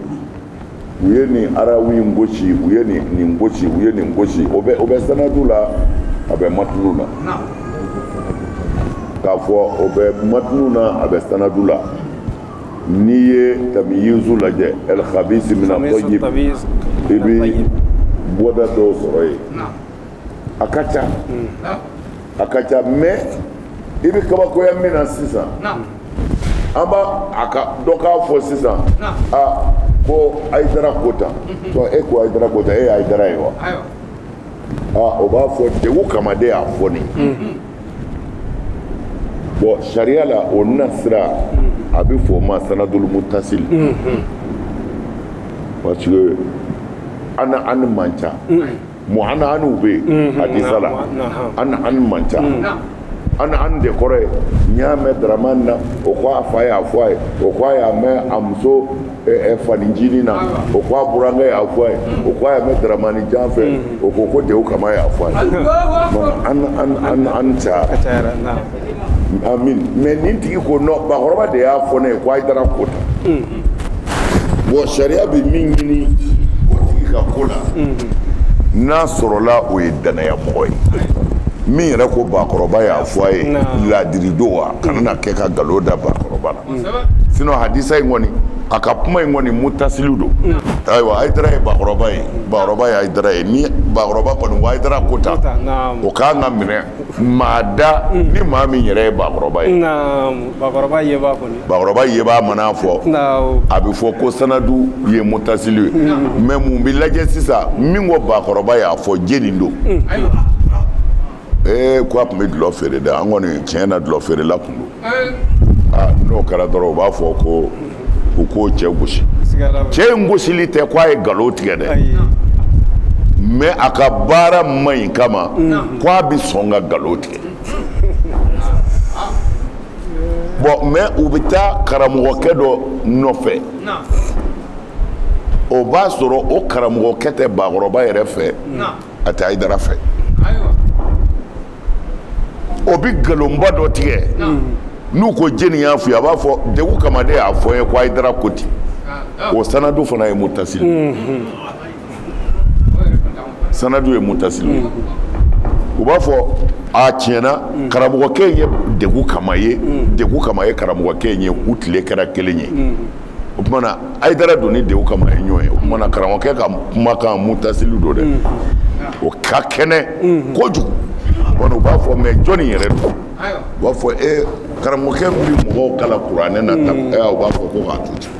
Speaker 1: u ye nin arawi in gosi u ye nin nin gosi u ye nin gosi o bɛ o bɛ sanadu la a bɛ matunu na k'a fɔ o bɛ matunu na a bɛ sanadu la n'i ye tamiyizu lajɛ el khabisi mina tayyib i bɛ bɔda dɔw sɔrɔ yen a ka ca. a ka ca mais i bɛ kabakoya min na sisan an b'a a ka dɔ k'a fɔ sisan a ko ayidara ko tan mhm. e ko ayidara ko tan e ye ayidara ye wa aa o b'a fɔ degun kama de y'a fɔ nin mhm. bon sariya la o nasira mhm. a bɛ fɔ o ma sanadul mutasili parce que an an man ca Mu an bɛ yen hadisa la an an man ca an an de kɔrɔ ye n y'a mɛn daramani na o k' a fa y'a fɔ a ye o k' a y'a mɛn a muso faninjini na o k' a burankɛ y'a fɔ a ye o k' a y'a mɛn daramani jan fɛ o ko ko degu kama y'a fɔ a ye an cayara mɛ nin tigi ko nɔn bakɔrɔba de y'a fɔ ne ye k' ayidara ko tan bɔn sariya bɛ min ɲini o tigi ka ko la n'a sɔrɔla o ye danaya mɔgɔ ye min yɛrɛ ko bakɔrɔba y'a fɔ a ye laadirido wa kana na kɛ ka nkalon da bakɔrɔba la sinɔn hadisa in kɔni a ka kuma in kɔni mutasili don ayiwa ayidara ye bakɔrɔba ye bakɔrɔba ye ayidara ye ni bakɔrɔba kɔni ko ayidara ko tan o k'an ka minɛ maa da ni maa min yɛrɛ ye bakɔrɔba ye bakɔrɔba yebaa man'a fɔ a bɛ fɔ ko sanadu ye mutasili ye mɛ mun bɛ lajɛ sisan min ko bakɔrɔba y'a fɔ jɛni don ee ko a tun bɛ dulɔ feere dɛ an kɔni tiɲɛ na dulɔ feerela tun don n'o kɛra dɔrɔn u b'a fɔ ko u k'o cɛ gosi cɛ in gosili tɛ k'a ye nkalon tigɛ dɛ mɛ a ka baara man ɲi kama ko a bɛ sɔn ka nkalon tigɛ bɔn mɛ u bɛ taa karamɔgɔkɛ dɔ nɔfɛ o b'a sɔrɔ o karamɔgɔkɛ tɛ bakɔrɔba yɛrɛ fɛ a tɛ ayidara fɛ o bɛ nkalonba dɔ tigɛ n'u ko jɛni y'a f'i ye a b'a fɔ degu kama de y'a fɔ n ye ko ayidara ko ten o sanadu fana ye mutasili mm-hmm. sanadu ye mutasili ye u b'a fɔ a tiɲɛ na mm. karamɔgɔkɛ ye degu kama ye mm. degu kama ye karamɔgɔkɛ ye u tile kɛra kelen ye mm. o tumana ayidara don ni degu kama ye ɲɔgɔn ye o tumana karamɔgɔkɛ ka kumakan mutasili don dɛ mm. o ka kɛnɛ mm. kojugu kɔni u b'a fɔ mɛ jɔni yɛrɛ don u b'a fɔ e karamɔgɔkɛ bɛ mɔgɔw kalan kuranɛ na tan mm. u b'a fɔ ko k'a to ten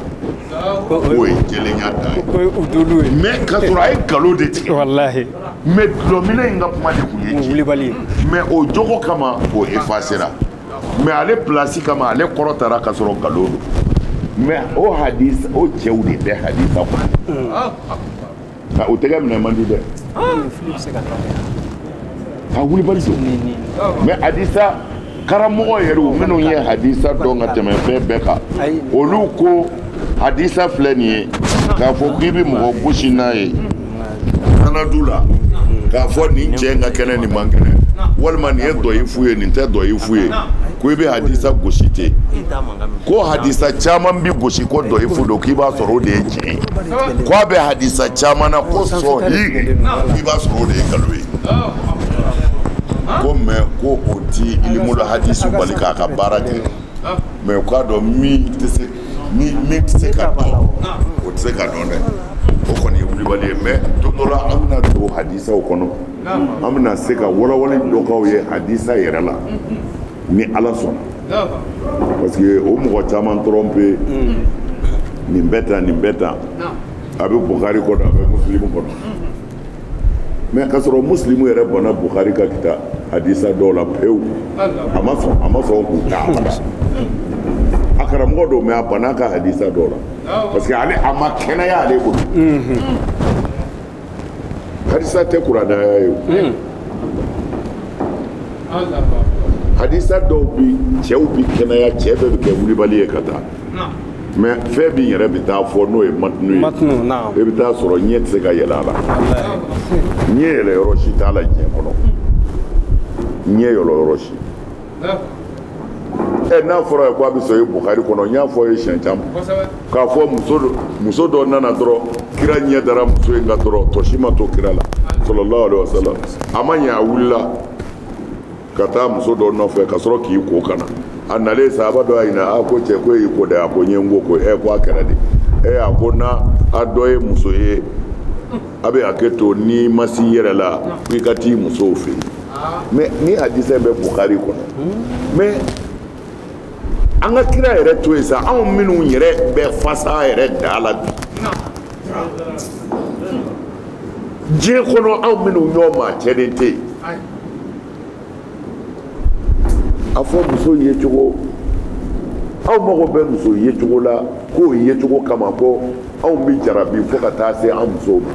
Speaker 1: k'o ye jɛlenya dan ye mɛ k'a sɔrɔ a ye nkalon de tigɛ walahi mɛ dulɔminna in ka kuma de tun ye tiɲɛ mɛ o jogo kama o efasera mɛ ale plasi kama ale kɔrɔtara ka sɔrɔ nkalon don mɛ o hadisa o cɛw de bɛ hadisa kɔnɔ nka u tɛgɛ minɛ man di dɛ a wulibali don mɛ hadisa karamɔgɔ yɛrɛw minnu ye hadisa dɔn ka tɛmɛ fɛn bɛɛ kan olu ko hadisa filɛ nin ye k'a fɔ k'i bɛ mɔgɔ gosi n'a ye du la k'a fɔ nin cɛ in ka kɛnɛ nin man kɛnɛ walima nin ye dɔyifu ye nin tɛ dɔyifu ye ko i bɛ hadisa gosi ten ko hadisa caman bi gosi ko dɔyifu don k'i b'a sɔrɔ o de ye tiɲɛ ye ko a bɛ hadisa caman na ko sɔhi k'i b'a sɔrɔ o de ye nkalon ye ko mɛ ko o ti ilimul hadisi bali k'a ka baara kɛ mɛ u k'a dɔn min tɛ se ni min tɛ se ka dɔn o tɛ se ka dɔn dɛ o kɔni ye wulibali ye mɛ don dɔ la an bɛna don hadisaw kɔnɔ an bɛna se ka walawala dɔ k'aw ye hadisa yɛrɛ la ni ala sɔnna parce que o mɔgɔ caman tromper nin bɛ tan nin bɛ tan a bɛ bukari kɔnɔ a bɛ musilimu kɔnɔ mɛ k'a sɔrɔ musilimu yɛrɛ banna bukari ka kita hadisa dɔw la pewu a ma sɔn k'u ta abada a karamɔgɔ don mɛ a banna a ka hadisa dɔw la parce que ale a ma kɛnɛya ale bolo hadisa tɛ kurana aya ye o hadisa dɔw bi cɛw bi kɛnɛya cɛ bɛɛ bi kɛ wulibali ye ka taa mɛ fɛn min yɛrɛ bɛ taa fɔ n'o ye matinu ye e bɛ taa sɔrɔ ɲɛ tɛ se ka yɛlɛ a la ɲɛ yɛlɛ yɔrɔ si t'a la diɲɛ kɔnɔ ɲɛ yɛlɛ yɔrɔ si ɛ n'a fɔra i ye ko a bɛ sɔrɔ ye bukari kɔnɔ n y'a fɔ ye siɲɛ caman k'a fɔ muso dɔ nana dɔrɔn kira ɲɛ dara muso in kan dɔrɔn tɔ si ma to kira la salalahu alayhi wa salam a ma ɲɛ a wulila ka taa muso dɔ nɔfɛ ka sɔrɔ k'i ko ka na a nalen sahaba dɔ y'a ɲininka a ko cɛ ko e y'i ko dɛ a ko n ye n ko ko ɛ ko a kɛra de ɛ a ko n'aw dɔ ye muso ye a bɛ hakɛ to n'i ma s'i yɛrɛ la ko i ka t'i musow fɛ yen mɛ nin hadisa in bɛ bukari kɔnɔ mɛ an ka kira yɛrɛ to yen sa anw minnu yɛrɛ bɛ fasa yɛrɛ da la bi diɲɛ kɔnɔ anw minnu ɲɔgɔn maa cɛnnen tɛ yen a fɔ muso ye cogo anw mago bɛ muso ye cogo la k'o ye cogo kama ko anw bɛ jarabi fo ka taa se an musow ma.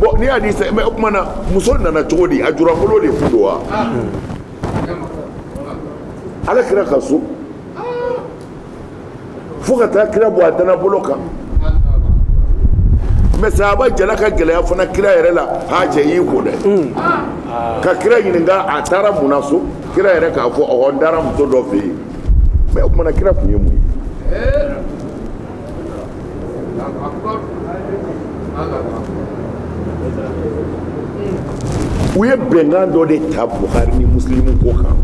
Speaker 1: bɔn nin hadisa mɛ o tuma na muso nana cogo di a julankolon de tun don wa ala kira ka so fo ka taa kira bɔ a dana bolo kan mɛ sahaba jala ka gɛlɛya fana kira yɛrɛ la a cɛ y'i ko dɛ ka kira ɲininka a taara mun na so kira yɛrɛ k'a fɔ ɔhɔ n taara muso dɔ fɛ yen mɛ o tuma na kira tun ye mun ye u ye bɛnkan dɔ de ta buhari ni musilimu ko kan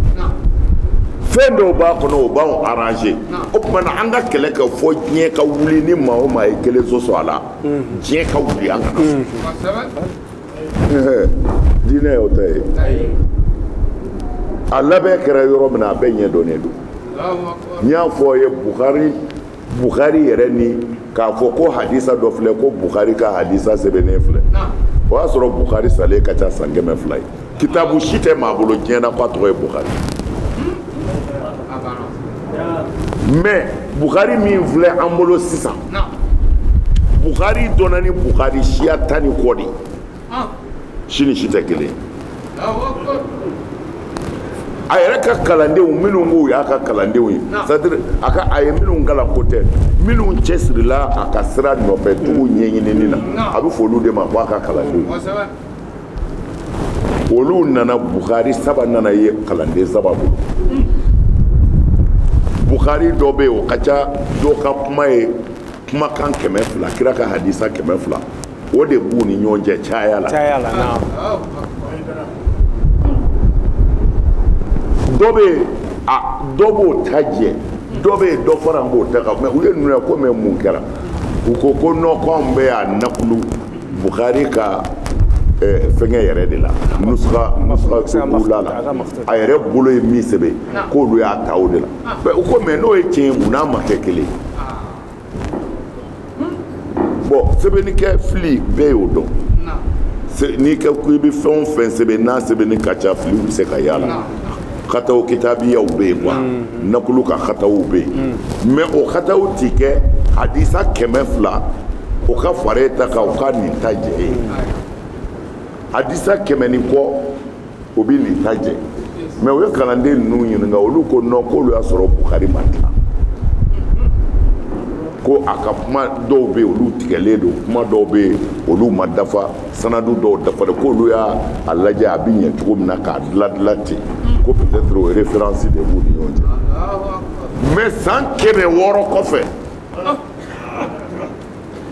Speaker 1: fɛn dɔw b'a kɔnɔ o b'anw arranger o tuma na an ka kɛlɛ kɛ fo diɲɛ ka wuli ni maa o maa ye kelen sɔsɔ a la diɲɛ ka wuli an kana diinɛ y'o ta ye a labɛn kɛra yɔrɔ min na a bɛɛ ɲɛ dɔnnen don n y'a fɔ aw ye buhari bukhari yɛrɛ n'i k'a fɔ ko hadisa dɔ filɛ ko bukhari ka hadisa sɛbɛnnen filɛ o y'a sɔrɔ bukhari salen ka ca san kɛmɛ fila ye kitabu si tɛ maa bolo diɲɛ na k'a tɔgɔ ye bukhari mais bukhari min filɛ an bolo sisan bukhari dɔnna ni bukhari siya tan ni kɔ de ye si ni si tɛ kelen a yɛrɛ ka kalandenw minnu b'u y'a ka kalandenw ye c'est-à-dire a ka a ye minnu kalan ko tɛ minnu cɛsirila a ka sira nɔfɛ tugu ɲɛɲinini na a bɛ fɔ olu de ma ko a ka kalandenw olu nana bukari saba nana ye kalanden saba bolo bukari dɔ bɛ yen o ka ca dɔ ka kuma ye kumakan kɛmɛ fila kira ka hadisa kɛmɛ fila o de b'u ni ɲɔgɔn cɛ caya la caya la naam dɔ bɛ yen a dɔ b'o ta jɛ dɔ bɛ yen dɔ faralen b'o ta kan mais u ye ninnu ye ko mais mun kɛra u ko ko non k'an bɛɛ y'a nakulu bukari ka eh, fɛngɛ yɛrɛ de la nusuka nusuka ula la a yɛrɛ bolo ye min sɛbɛn k'olu y'a ta o de la mais u ko mais n'o ye tiɲɛ ye mun na a ma kɛ kelen ye bon sɛbɛnnikɛ fili bɛɛ y'o dɔn n'i kɛ ko i bɛ fɛn o fɛn sɛbɛn n'a sɛbɛnni ka ca filiw bɛ se ka y'a la kataw kitabiyaw bɛ yen quoi nakulu ka kataw bɛ yen mais o kataw ti kɛ hadisa kɛmɛ fila o ka fara e ta kan o ka nin ta jɛ ye hadisa kɛmɛ ni kɔ o bɛ nin ta jɛ mais o ye kalanden ninnu ɲininka olu ko non k'olu y'a sɔrɔ bukari ma tila ko a ka kuma dɔw bɛ yen olu tigɛlen don kuma dɔw bɛ yen olu ma dafa sanadu dɔw dafalen don k'olu y'a lajɛ a bɛ ɲɛ cogo min na k'a diladila ten ko peut-être o différence de b'u ni ɲɔgɔn cɛ mais san kɛmɛ wɔɔrɔ kɔfɛ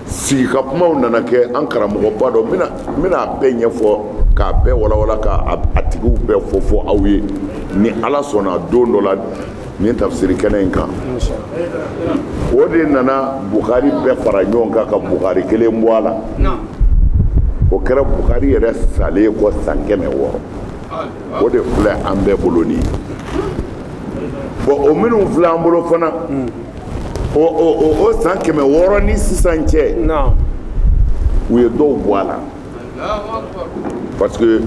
Speaker 1: sigi ka kumaw nana kɛ an karamɔgɔba dɔ n bɛn'a bɛɛ ɲɛfɔ k'a bɛɛ walawala k'a a tigiw bɛɛ fɔ fɔ aw ye ni ala sɔnna don dɔ la nin tafsiri kɛnɛ in kan o de nana bukari bɛɛ fara ɲɔgɔn kan ka bukari kelen bɔ a la o kɛra bukari yɛrɛ salen kɔ san kɛmɛ wɔɔrɔ o de filɛ an bɛɛ bolo nin ye bon o minnu filɛ an bolo fana o san kɛmɛ wɔɔrɔ ni sisan cɛ u ye dɔw bɔ a la parce que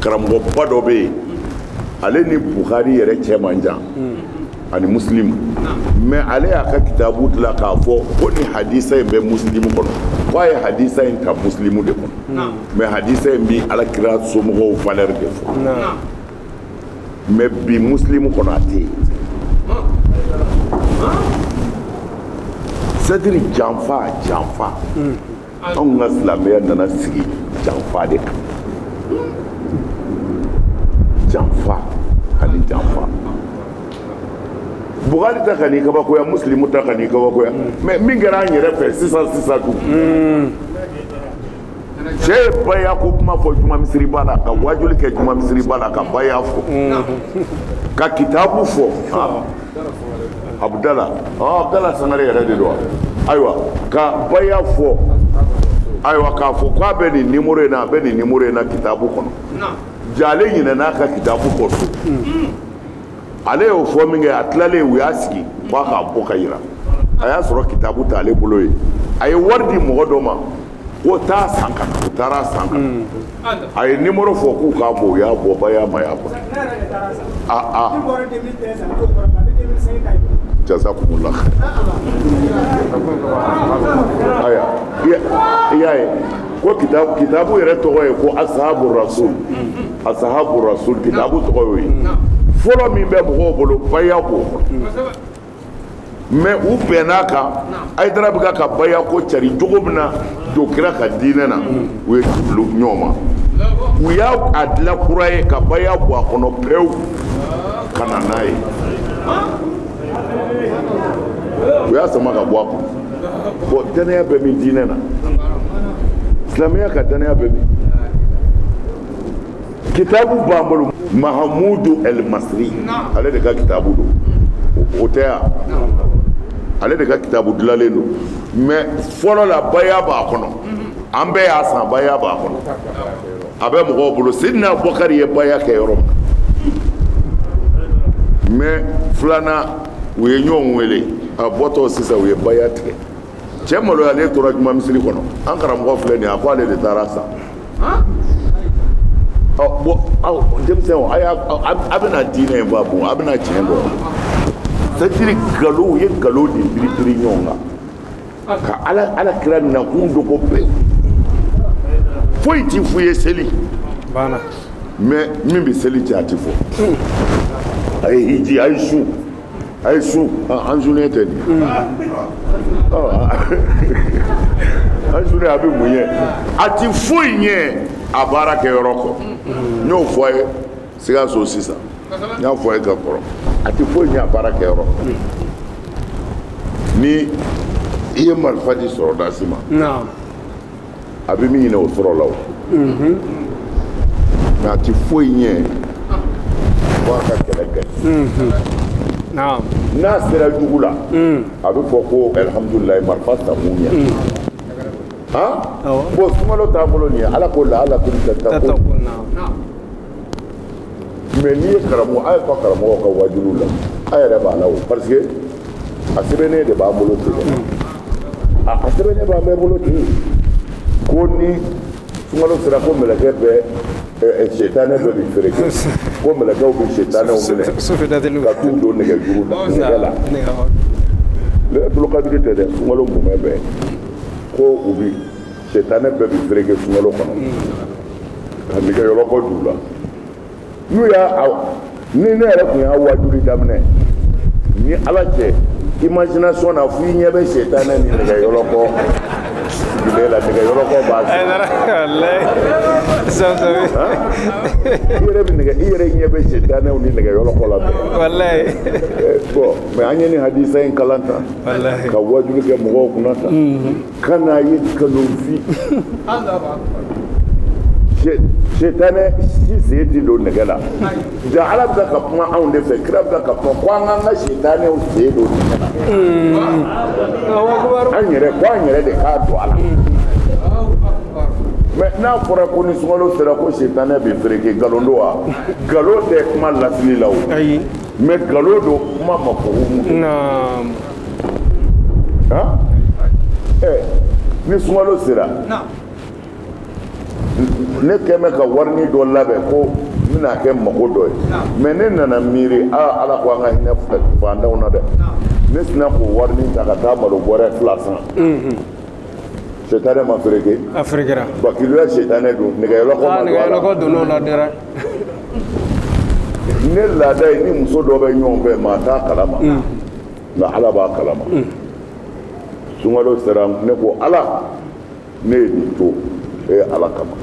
Speaker 1: karamɔgɔba dɔ bɛ yen ale ni buhari yɛrɛ cɛ man jan hmm. ani musilimu mais ale y'a ka kitabu dilan k'a fɔ ko ni hadisa in bɛ musilimu kɔnɔ ko a ye hadisa in ta musilimu de kɔnɔ mais hadisa in bɛ ala kira somɔgɔw valeur de fɔ mais bi musilimu kɔnɔ a tɛ yen c'est-à-dire janfa janfa anw ka silamɛya nana sigi janfa de kan janfa ani janfa buhari ta kan'i kabakoya musilimu ta kan'i kabakoya mais min kɛra an yɛrɛ fɛ sisan sisan dun cɛ ye baya ko kuma fɔ juma misiri ba la ka wajuli kɛ juma misiri ba la ka baya fɔ ka kitabu fɔ abudala abudala sangare yɛrɛ de don ayiwa ka baya fɔ ayiwa k'a fɔ k'a bɛ nin numéro in na a bɛ nin numéro in na kitabu kɔnɔ jaa ale ɲinɛna a ka kitabu kɔ so ale y'o fɔ min kɛ a tilalen u y'a sigi k'a k'a bɔ k'a yira a y'a sɔrɔ kitabu t'ale bolo yen a ye wari di mɔgɔ dɔ ma ko taa a san ka na u taara a san ka na a ye numéro fɔ k'u k'a bɔ u y'a bɔ baya ma ye a bɔ aa aa jazakumullah aya i y'a ye ko kitabu yɛrɛ tɔgɔ ye ko asahabu rasul asahabu rasul kitabu tɔgɔ y'o ye fɔlɔ min bɛ mɔgɔw bolo baya b'o kɔnɔ mais u bɛnn'a kan hayidara bɛ ka ka baya ko cari cogo min na jo kira ka diinɛ na u ye jubilo ɲɔgɔn ma u y'a a dilan kura ye ka baya bɔ a kɔnɔ pewu ka na n'a ye u y'a sama ka bɔ a kɔnɔ bon dannaya bɛ min diinɛ na silamɛya ka dannaya bɛ min kitabu b'an bolo mahamudu el masri ale de ka kitabu don o tɛ yan ale de ka kitabu dilanlen don mais fɔlɔ la baya b'a kɔnɔ an bɛɛ y'a san baya b'a kɔnɔ a bɛ mɔgɔw bolo sidina abubakari ye baya kɛ yɔrɔ min mais filanan u ye ɲɔgɔn wele a bɔtɔ sisan u ye baya tigɛ cɛ maloyalen tora juma misiri kɔnɔ an karamɔgɔ filɛ nin ye a ko ale de taara a san bon aw denmisɛnw a y'a a bɛna diinɛ in bɔ a bon a bɛna tiɲɛ dɔn c'est-à-dire nkalon u ye nkalon de biribiri ɲɔgɔn kan ka ala ala kira nakun dogo pewu foyi ti f'u ye seli mais min bɛ seli tiɲɛ a ti fɔ a ye hiji a ye su a ye sun an sunnen tɛ nin an sunnen a bɛ mun ye a ti foyi ɲɛ a baara kɛ yɔrɔ kɔ n y'o fɔ a ye sikaso sisan n y'a fɔ a ye ka kɔrɔ a ti foyi ɲɛ a baara kɛ yɔrɔ kɔ ni i ye marifa di sɔrɔdasi ma a bɛ min ɲini o sɔrɔ la o mais a ti foyi ɲɛ fo a ka kɛlɛ kɛ n'a sera jugu la a bɛ fɔ ko alihamudulilayi marifa takun ɲɛ bon sunkalo t'an bolo nin ye ala k'o la ala k'o la mais n'i ye karamɔgɔ a ye fɔ karamɔgɔw ka wajuliw la a yɛrɛ b'a la o parce que a sɛbɛnnen de b'an bolo ten a a sɛbɛnnen b'an bɛɛ bolo ten ko ni sunkalo sera ko mɛlɛkɛ bɛ setanɛ bɛɛ bɛ fereke ko mɛlɛkɛw bɛ setanɛw minɛ ka t'u don nɛgɛjuru la nɛgɛ la lɛtulukadiri tɛ dɛ sunkalo mumɛ bɛɛ ko u bi setanɛ bɛɛ bɛ fereke sunkalo kɔnɔ ka nɛgɛyɔlɔkɔ don u la n'u y'a ni ne yɛrɛ tun y'a waajuli daminɛ ni ala cɛ imagination na fo i ɲɛ bɛ setanɛ ni nɛgɛyɔlɔkɔ sigilen la nɛgɛyɔlɔkɔ b'a i yɛrɛ ɲɛ bɛ setanɛw ni nɛgɛyɔlɔkɔ la bɛɛ bon mais an ye nin hadisa in kalan tan ka waajuli kɛ mɔgɔw kunna tan Ka n'a ye kalofin setanɛ si sen tɛ don nɛgɛ la jaa ala bɛ ka kuma anw de fɛ kira bɛ ka kuma ko an k'an ka setanɛw sen don nɛgɛ la an yɛrɛ ko an yɛrɛ de k'a don a la mais n'a fɔra ko ni sunkalo sera ko setanɛ bɛ fereke nkalon don wa nkalon tɛ kuma lasili la o mais nkalon don kuma ma ko han ɛ eh, ni sunkalo sera ne tun bɛ ka warini dɔ labɛn ko n bɛna kɛ mago dɔ ye mais ne nana miiri aa ala ko an ka hinɛ fantanw na dɛ ne sina k'o warini ta ka taa malo bɔrɛ fila san mhm. setanɛ ma fereke a ferekera bakiluya setanɛ don nɛgɛyɔlɔkɔ ma don a la nɛgɛyɔlɔkɔ donn'o la dɛrɛ ne laada ye ni muso dɔ bɛ ɲɔgɔn fɛ maa t'a kalama mm. nka ala b'a kalama mm. sunkalo sera ne ko ala ne ye nin to e ye ala kama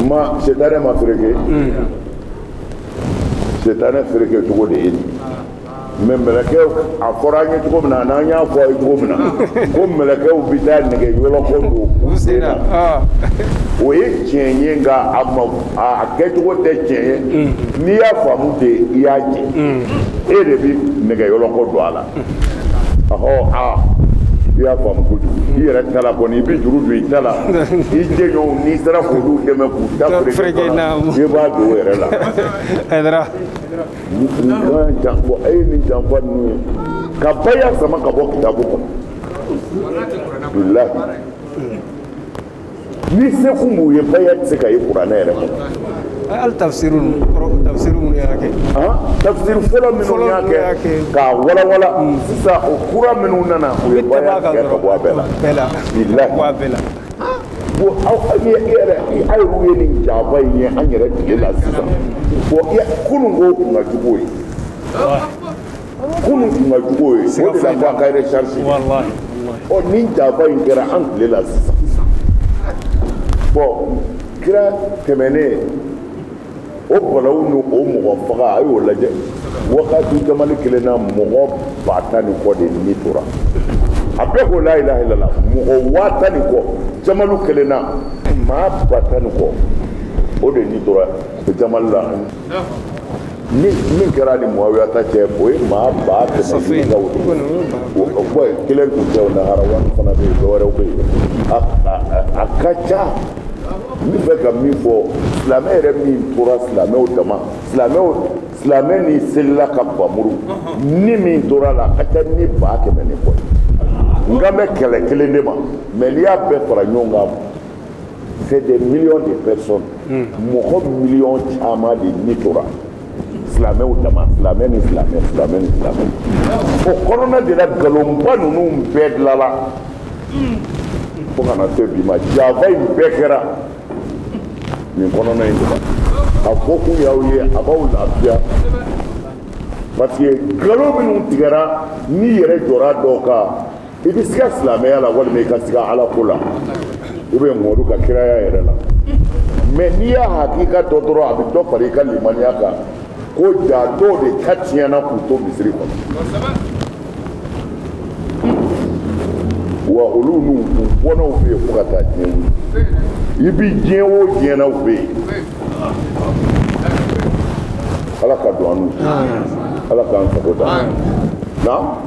Speaker 1: ma setanɛ ma fereke mm. setanɛ fereke cogo de ye nin mais mɛlɛkɛw a fɔra an ye cogo min na ani an y'a fɔ a ye cogo min na ko mɛlɛkɛw bɛ taa nɛgɛ yɔlɔkɔ don u sen na o ye tiɲɛ ye nka a ma a kɛcogo tɛ tiɲɛ ye n'i y'a faamu ten i y'a jɛ e de bɛ nɛgɛ yɔlɔkɔ don a la ɔhɔ aa i y'a faamu kojugu i yɛrɛ ta la kɔni i bɛ juru don i ta la i jɛɲɔgɔnw n'i sera k'olu dɛmɛ k'u ta fereke i b'a don o yɛrɛ la jan bɔ a ye nin janfa ninnu ye ka baya sama ka bɔ kitabu kɔnɔ bilahi ni se kun b'u ye baya tɛ se ka ye kuranɛ yɛrɛ kɔnɔ hali tafsiri ninnu
Speaker 2: kɔrɔ tafsiri minnu y'a kɛ tafsiri fɔlɔ
Speaker 1: minnu y'a kɛ k'a walawala sisan o kura minnu nana u ye baya tigɛ ka bɔ a bɛɛ la bilahi aw ye e yɛrɛ a ye ye nin janfa in ye an yɛrɛ tile la sisan bon kunun ko kun ka jugu ye kunun kun ka jugu ye o de la ko a ka recharge ɔ nin janfa in kɛra an tile la sisan bon kira tɛmɛnen o balawu ni o mɔgɔ faga a y'o lajɛ wagati jamali kelen na mɔgɔ ba tan ni kɔ de ni tora a bɛɛ ko la ilaha illallah mɔgɔ waa tan ni kɔ jamali kelen na maa ba tan ni kɔ o de ni tora jamali la min kɛra ni muawiya ta cɛ o ye maa ba kɛmɛ ka wolo bɔn kelen tun tɛ o naharawani fana bɛ yen dɔwɛrɛw bɛ yen a ka ca n bɛ fɛ ka min fɔ silamɛ yɛrɛ min tora silamɛw dama silamɛw silamɛ ni selila ka bamuru ni min tora la a ka ca ni ba kɛmɛ ni kɔ n kan bɛ kɛlɛ kelen de ma mais n'i y'a bɛɛ fara ɲɔgɔn kan c'est des millions de personnes mɔgɔ miliyɔn caman de ni tora silamɛw dama silamɛ ni silamɛ silamɛ ni silamɛ o kɔnɔna de la nkalonba ninnu bɛɛ dilala fo ka na se bi ma janfa in bɛɛ kɛra nin kɔnɔna in de la a fɔ kun y'aw ye a b'aw lafiya parce que nkalon minnu tigɛra n'i yɛrɛ jɔra dɔw kan i bɛ siga silamɛya la walima i ka siga ala ko la ou bien mɔdu ka kiraya yɛrɛ la mais n'i y'a hakika dɔn dɔrɔn a bɛ dɔ fara i ka limaniya kan ko ja dɔw de ka tiɲɛna k'u to misiri kɔnɔ wa olu n'u bɔnnaw bɛ yen fo ka taa diɲɛ wuli i bɛ diɲɛ o diɲɛ na u bɛ yen ala ka don an n'u ala k'an sago da na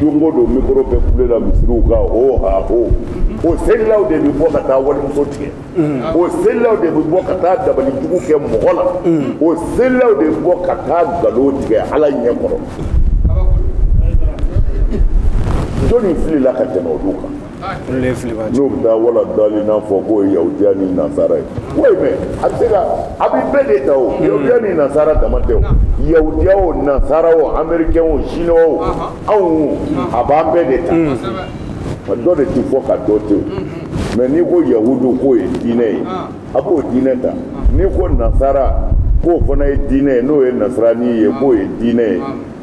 Speaker 1: don o don mikoro bɛ kule la misiriw kan o ha o o selilaw de bɛ bɔ ka taa walimuso tigɛ o selilaw de bɛ bɔ ka taa dabali jugu kɛ mɔgɔ la o selilaw de bɛ bɔ ka taa nkalon tigɛ ala ɲɛ kɔrɔ jɔnni filila ka tɛmɛ olu kan n'o bɛ taa wala dalina fɔ k'o ye yahudiya ni nasara ye oui mais a bɛ se ka a bɛ bɛɛ de ta o yahudiya ni nasara dama tɛ o yahudiya o nasara o américain o chinois o anw a b'an bɛɛ de ta dɔ de ti fɔ ka dɔ to yen mais n'i ko yahudu k'o ye diinɛ ye a b'o diinɛ ta n'i ko nasara k'o fana ye diinɛ ye n'o ye nasarani ye k'o ye diinɛ ye